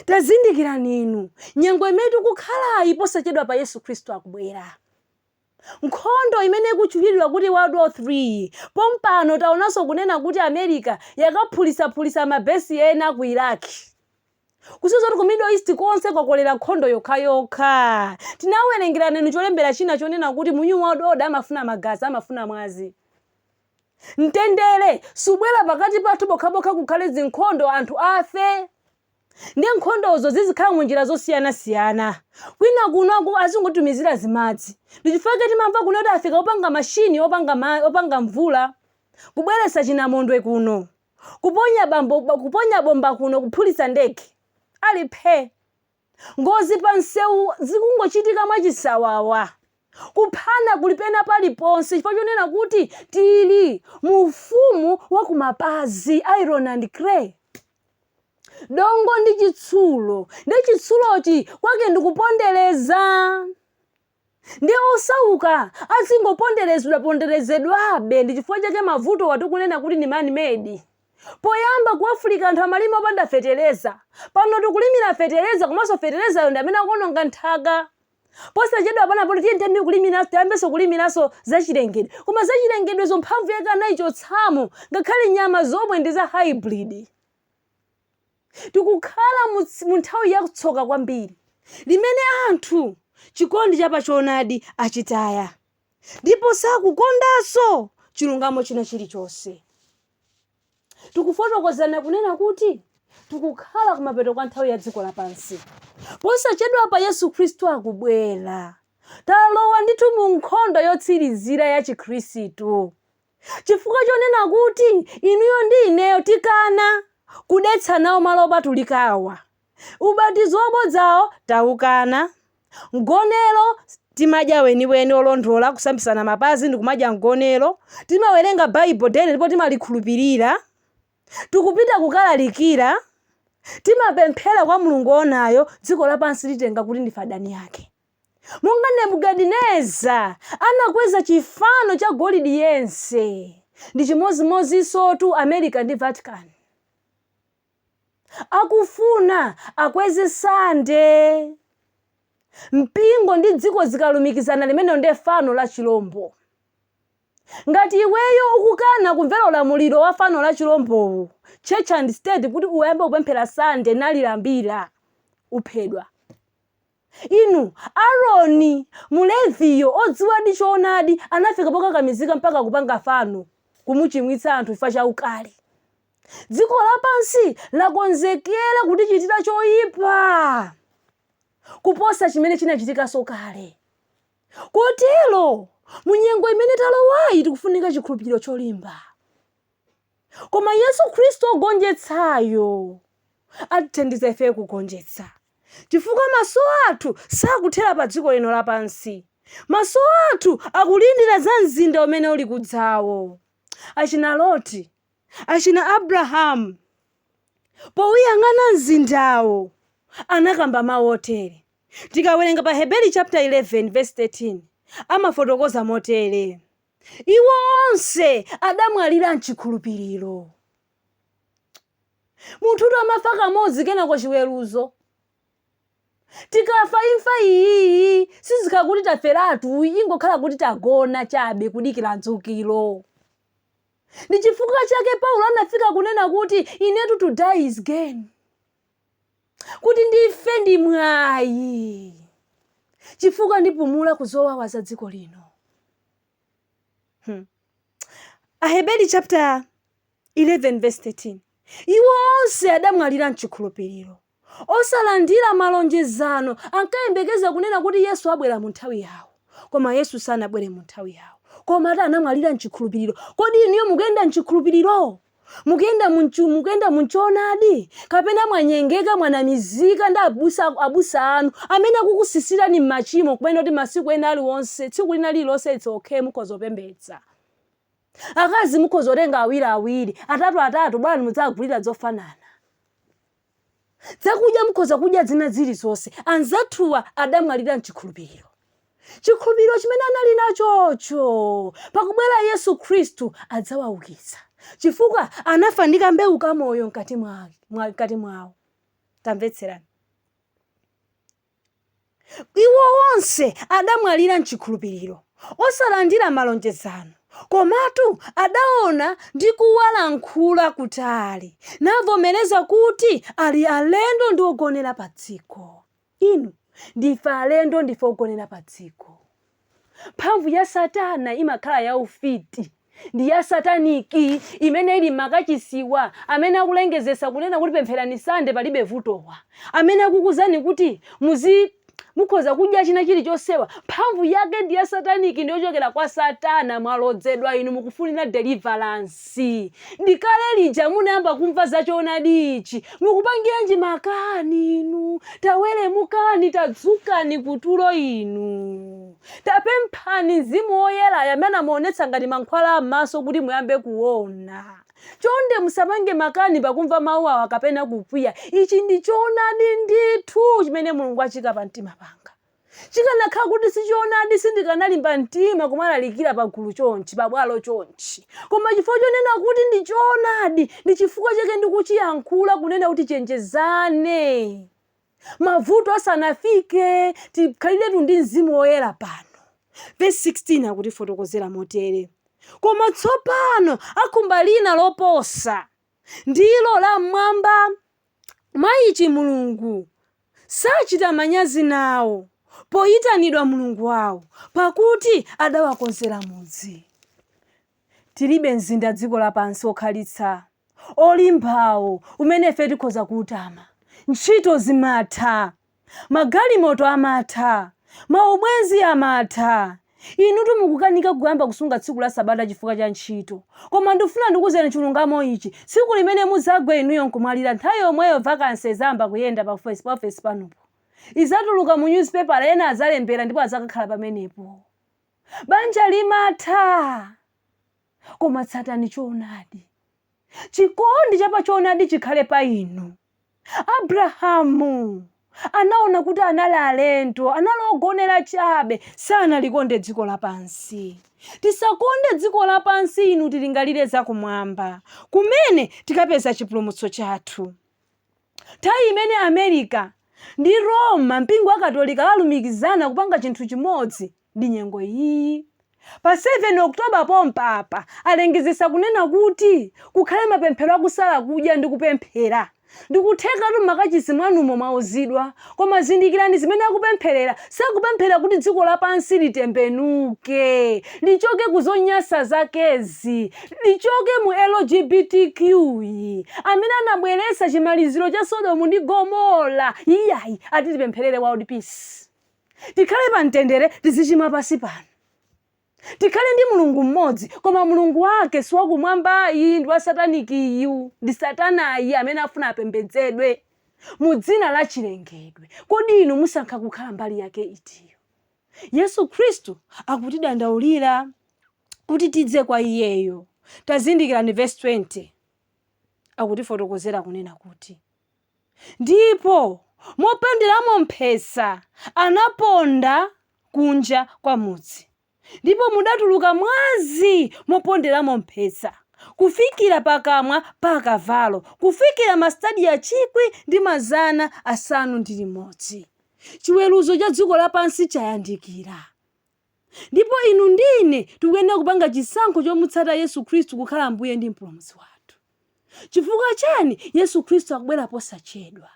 Tazindikirani inu nyengo imene tikukhalayi, posachedwapa Yesu Khristu akubwera nkhondo imene ikutchulidwa kuti world war 3 pompano taonanso kunena kuti america yakaphulitsaphulitsa mabesi ena ku iraq kusiza kuti ku middle east konse kwakolera nkhondo yokhayokha tinawerengerana inu cholembera china chonena kuti mu new world order amafuna magazi amafuna mwazi mtendere siubwera pakati pathu pokhapokha kukhale zinkhondo anthu afe ndi nkhondozo zizikhala mu njira zosiyanasiyana kwina kuno azingotumizira zimadzi ndichifukwa timamva kuno kuti afika opanga mashini opanga mvula kubweretsa chinamondwe kuno Kuponya kuponya bomba kuno kuphulitsa ndege. Ali phee. Ngozi pa msewu zikungochitika mwachisawawa. Kuphana kuli pena paliponse chifukwa chonena kuti tili mu ufumu wa kumapazi, iron and clay. Dongo ndi chitsulo. Ndiye chitsulochi kwake ndi kupondereza. Ndiye osauka azingoponderezedwa ponderezedwabe ndi chifukwa chake mavutowa tikunena kuti ndi man made. Poyamba ku Africa anthu amalima opanda fetereza. Pano tikulimira fetereza komanso feterezayo ndi amene akuononga nthaka. Posachedwa pano apo tiyeni tiyambe kulimira tiyambenso kulimiranso zachilengedwe. Koma zachilengedwezo mphamvu yake anaichotsamo ngakhale nyama zomwe ndi za hybrid. Tikukhala mu nthawi ya tsoka kwambiri, limene anthu chikondi cha pa choonadi achitaya, ndipo sakukondanso chilungamo china chilichonse. Tikufotokozana kunena kuti tikukhala kumapeto kwa nthawi ya dziko lapansi. Posachedwapa Yesu Khristu akubwera. Talowa ndithu mu nkhondo yotsirizira ya Chikhristu. Chifukwa chonena kuti inuyo ndi ineyo tikana kudetsa nawo malo opatulikawa. Ubatizo wabodzawo tikukana. Mgonero timadya weniweni wolondola, kusambitsana mapazi ndi kumadya mgonero. Timawerenga Bible daily ndipo timalikhulupirira. Tikupita kukalalikira. Timapemphera kwa Mulungu woonayo. Dziko lapansi litenga kuti ndife adani yake. Monga Nebukadineza anakweza chifano cha golide yense, ndi chimodzimodzinsotu Amerika ndi Vatican. Akufuna akweze Sande. Mpingo ndi dziko zikalumikizana limenelo nde fano la chilombo. Ngati iweyo ukukana kumvera ulamuliro wa fano la chilombowu, Church and State kuti uyambe kupemphera Sande nalilambira, uphedwa. Inu, Aroni, Mleviyo, odziwadi choonadi, anafika pokakamizika mpaka kupanga fano, kumuchimwitsa anthu chifukwa cha ukali. Dziko lapansi lakonzekera kutichitira choipa kuposa chimene chinachitikanso kale. Kotero, mu nyengo imene talowayi tikufunika chikhulupiriro cholimba. Koma Yesu Khristu wogonjetsayo atithandiza ife kugonjetsa, chifukwa maso athu sakuthera padziko lino lapansi. Maso athu akulindira za mzinda umene uli kudzawo. Achina Loti, achina Abrahamu, pouyang'ana mzindawo anakamba mawu otere. Tikawerenga pa Aheberi chaputala 11 vesi 13, amafotokoza motere. iwo onse adamwalira mchikhulupiriro munthutu amafa kamodzi kenako chiweruzo tikafa imfa iyiyi sizikhala kuti taferatu ingokhala kuti tagona chabe kudikira dzukiro ndi chifukwa chake paulo anafika kunena kuti inetu to die is gain kuti ndife ndi mwayi chifukwa ndipumula ku zowawa za dziko lino. Hmm. Aheberi chapter 11 verse 13 iwo onse adamwalira mchikhulupiriro osalandira malonjezano ankayembekeza kunena kuti yesu abwera mu nthawi yawo koma yesu sanabwere mu nthawi yawo koma ati anamwalira mchikhulupiriro kodi inuyo mukuyenda mchikhulupiriro Mukuyenda munchu mukuyenda munchoonadi kapena mwanyengeka mwanamizika ndi abusa abusa anu amene akukusisitirani mmachimo kumanena kuti masiku ena aliwonse tsiku lina lililonse it's okay mukhoza kupembedza. Akazi mukhoza kutenga awiri awiri, atatu atatu bola mudzagulira zofanana. Zakudya mukhoza kudya zina zilizonse. Anzathuwa adamwalira m'chikhulupiriro. Chikhulupiriro chimene anali nachocho pakubwera Yesu Khristu adzawaukitsa chifukwa anafa ndi kambewu kamoyo mkati mwa- mkati mwawo. Tamvetserani. Iwo onse adamwalira m'chikhulupiriro, osalandira malonjezano, komatu adaona ndi kuwalankhula kutali, navomereza kuti ali alendo ndi ogonera padziko. Inu, ndife alendo, ndife ogonera padziko. Mphamvu ya Satana imakhala ya ufiti ndi ya sataniki imene ili m'makachisiwa, amene akulengezesa kunena kuti pempherani Sunday palibe vutowa, amene akukuuzani kuti muzi mukhoza kudya china chilichonsewa, mphamvu yake ndi ya sataniki ndi yochokera kwa Satana, mwalodzedwa inu mukufunira deliverance. ndi kale lija munayamba kumva za choonadi ichi mukupangiranji makani inu tawereramukani tadzukani kutulo inu tapemphani mzimu woyera amene amaonetsa ngati mankhwala am'maso kuti muyambe kuona chonde musapange makani pakumva mawu awa kapena kukwiya ichi ndi choonadi ndithu chimene mulungu achiika pa mtima panga Chikanakhala kuti si choonadi sindikanalimba mtima kumalalikira pagulu chonchi, pabwalo chonchi. Koma chifukwa chonena kuti ndi choonadi ndi chifukwa chake ndikuchiyankhula kunena kuti tichenjezane mavuto asanafike. Tikhaliretu ndi mzimu woyera pano. Vesi 16 akutifotokozera motere, Koma tsopano akhumba lina loposa ndilo la mmwamba. Mwa ichi Mulungu sachita manyazi nawo poyitanidwa Mulungu wawo, pakuti adawakonzera mudzi. Tilibe mzinda dziko lapansi wokhalitsa wolimbawo umene ife tikhoza kuutama. Ntchito zimatha. Magalimoto amatha. Maubwenzi amatha. Inutu mukukanika kuyamba kusunga tsiku la Sabata chifukwa cha ntchito. Koma ndifuna ndikuuzeni chilungamo ichi, tsiku limene mudzagwe inuyo nkumwalira nthawi yomweyo vacancy idzayamba kuyenda pa office panupo. Idzatuluka mu nyuzipepala ena adzalembera ndipo adzakakhala pamenepo. Banja limatha. Koma tsatani choonadi. Chikondi cha pa choonadi chikhale pa inu. Abrahamu anaona kuti anali alendo, anali ogonera chabe, sanalikonde dziko lapansi. Tisakonde dziko lapansi inu, tilingalire za kumwamba, kumene tikapeza chipulumutso chathu. Nthawi imene Amerika ndi Roma, mpingo wa Katolika, alumikizana kupanga chinthu chimodzi, ndi nyengo iyiyi. Pa 7 October pompapa alengezesa kunena kuti kukhale mapemphero a kusala kudya ndi kupemphera. Ndikuthekatu mmakachisi mwanumo mwauzidwa, koma zindikirani zimene akupempherera, sakupemphera kuti dziko lapansi litembenuke, lichoke ku zonyasa zakezi, lichoke mu LGBTQ yi, amene anabweresa chimaliziro cha Sodomu ndi Gomora, iyayi, ati tipempherere world peace. tikhale pa mtendere tizichimwa pasi pano tikhale ndi mulungu mmodzi koma mulungu wake siwakumwambayi ndi wasatanikiyu ndi satanayi amene afuna apembedzedwe mu dzina la chilengedwe kodi inu musankha kukhala mbali yake itiyo yesu khristu akutidandaulira kuti tidze kwa iyeyo tazindikirani vesi 20 akutifotokozera kunena kuti Ndipo moponderamo mphesa anaponda kunja kwa mudzi, ndipo mudatuluka mwazi moponderamo mphesa, kufikira pakamwa pa akavalo, kufikira mastadiya chikwi ndi mazana asanu ndi limodzi. Chiweruzo cha dziko lapansi chayandikira. Ndipo inu ndi ine tikuyenera kupanga chisankho chomutsata Yesu Khristu kukhala Ambuye ndi Mpulumutsi wathu. Chifukwa chani? Yesu Khristu akubwera posachedwa.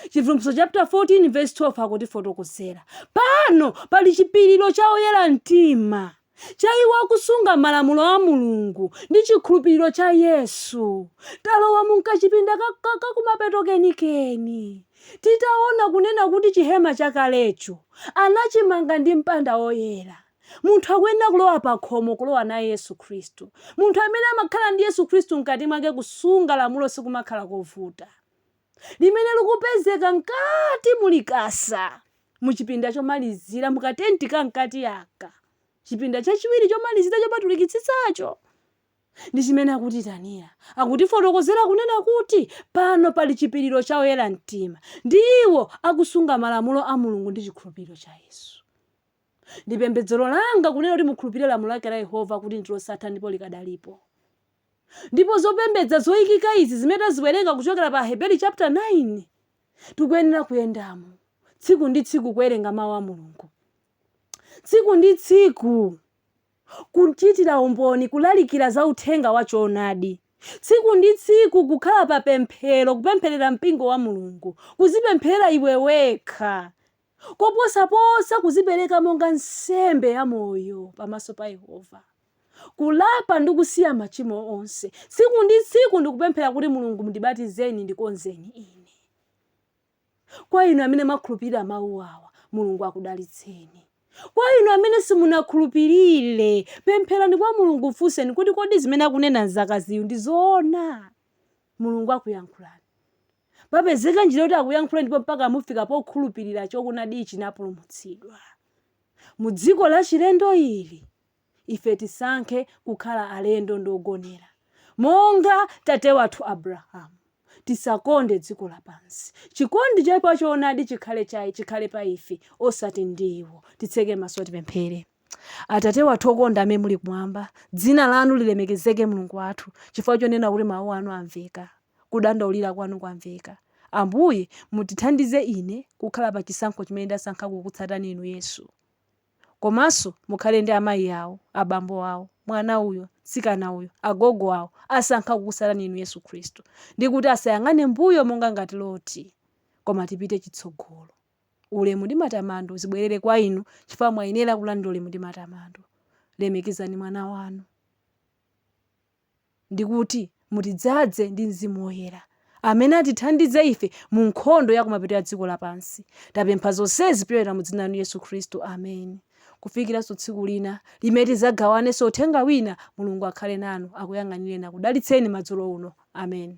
Chivumbulutso chaputala 14 vesi 12 akutifotokozera. Pano pali chipiriro cha oyera mtima, cha iwo akusunga malamulo a Mulungu ndi chikhulupiriro cha Yesu. Talowa mu kachipinda ka, ka, ka kumapeto kenikeni. Titaona kunena kuti chihema chakalecho anachimanga ndi mpanda woyera, munthu akuyenera kulowa pakhomo kulowa naye Yesu Khristu. Munthu amene amakhala ndi Yesu Khristu mkati mwake kusunga lamulo sikumakhala kovuta. Limene likupezeka mkati mu Likasa, mu chipinda chomalizira, mu katenti ka mkati aka, chipinda chachiwiri chomalizira chopatulikitsitsacho. Ndi chimene akutiitanira. Akutifotokozera kunena kuti pano pali chipiriro cha oyera mtima ndi iwo akusunga malamulo a Mulungu ndi chikhulupiriro cha Yesu. Ndi pembedzero langa kunena kuti mukhulupirire lamulo lake la Yehova kuti ndi losatha ndipo likadalipo. Ndipo zopembedza zoikika izi zimene taziwerenga kuchokera pa Aheberi chapter 9 tikuyenera kuyendamo tsiku ndi tsiku kuwerenga mau a Mulungu tsiku ndi tsiku. Kuchitira umboni Kulalikira za uthenga wa choonadi tsiku ndi tsiku Kukhala pa pemphero Kupempherera mpingo wa Mulungu Kuzipempherera iwe wekha Koposaposa kuzipereka monga nsembe ya moyo pamaso pa Yehova Kulapa ndi kusiya machimo onse tsiku ndi tsiku ndi kupemphera kuti Mulungu mndibatizeni ndikonzeni ine Kwa inu amene mwakhulupirira mawu awa, Mulungu akudalitseni. Kwa inu amene simunakhulupirire, pempherani kwa Mulungu, mfunseni kuti kodi zimene akunena mzakaziyu ndi zoona? Mulungu akuyankhulani. Papezeka njira kuti akuyankhulani ndipo mpaka mufika pokhulupirira choonadi ichi n'kupulumutsidwa. Mu dziko lachilendo ili, ife tisankhe kukhala alendo ndi ogonera, monga tate wathu Abrahamu. Tisakonde dziko lapansi. Chikondi cha pa choonadi chikhale cha, chikhale pa ife, osati ndi iwo. Titseke maso tipemphere. Atate wathu okonda amene muli kumwamba, dzina lanu lilemekezeke Mulungu wathu, chifukwa chonena kuti mawu anu amveka, kudandaulira kwanu kwamveka. Ambuye, mutithandize ine kukhala pa chisankho chimene ndasankha kukutsatani inu Yesu. Komanso mukhale ndi amayi awo, abambo awo, mwana uyo, mtsikana uyo, agogo awo, asankha kukutsatani Inu, Yesu Khristu, ndi kuti asayang'ane mmbuyo monga ngati Loti, koma tipite chitsogolo. Ulemu ndi matamando zibwerere kwa Inu, chifukwa mwayenera kulandira ulemu ndi matamando. Lemekezani Mwana Wanu. ndi kuti, Mutidzaze ndi Mzimu Woyera, amene atithandize ife mu nkhondo ya kumapeto ya dziko lapansi. Tapempha zonsezi kupyolera mu Dzina lanu Yesu Khristu. Amen. Kufikiranso tsiku lina, limene tidzagawanenso uthenga wina, Mulungu akhale nanu, akuyang'anireni, akudalitseni madzulo uno. Amen.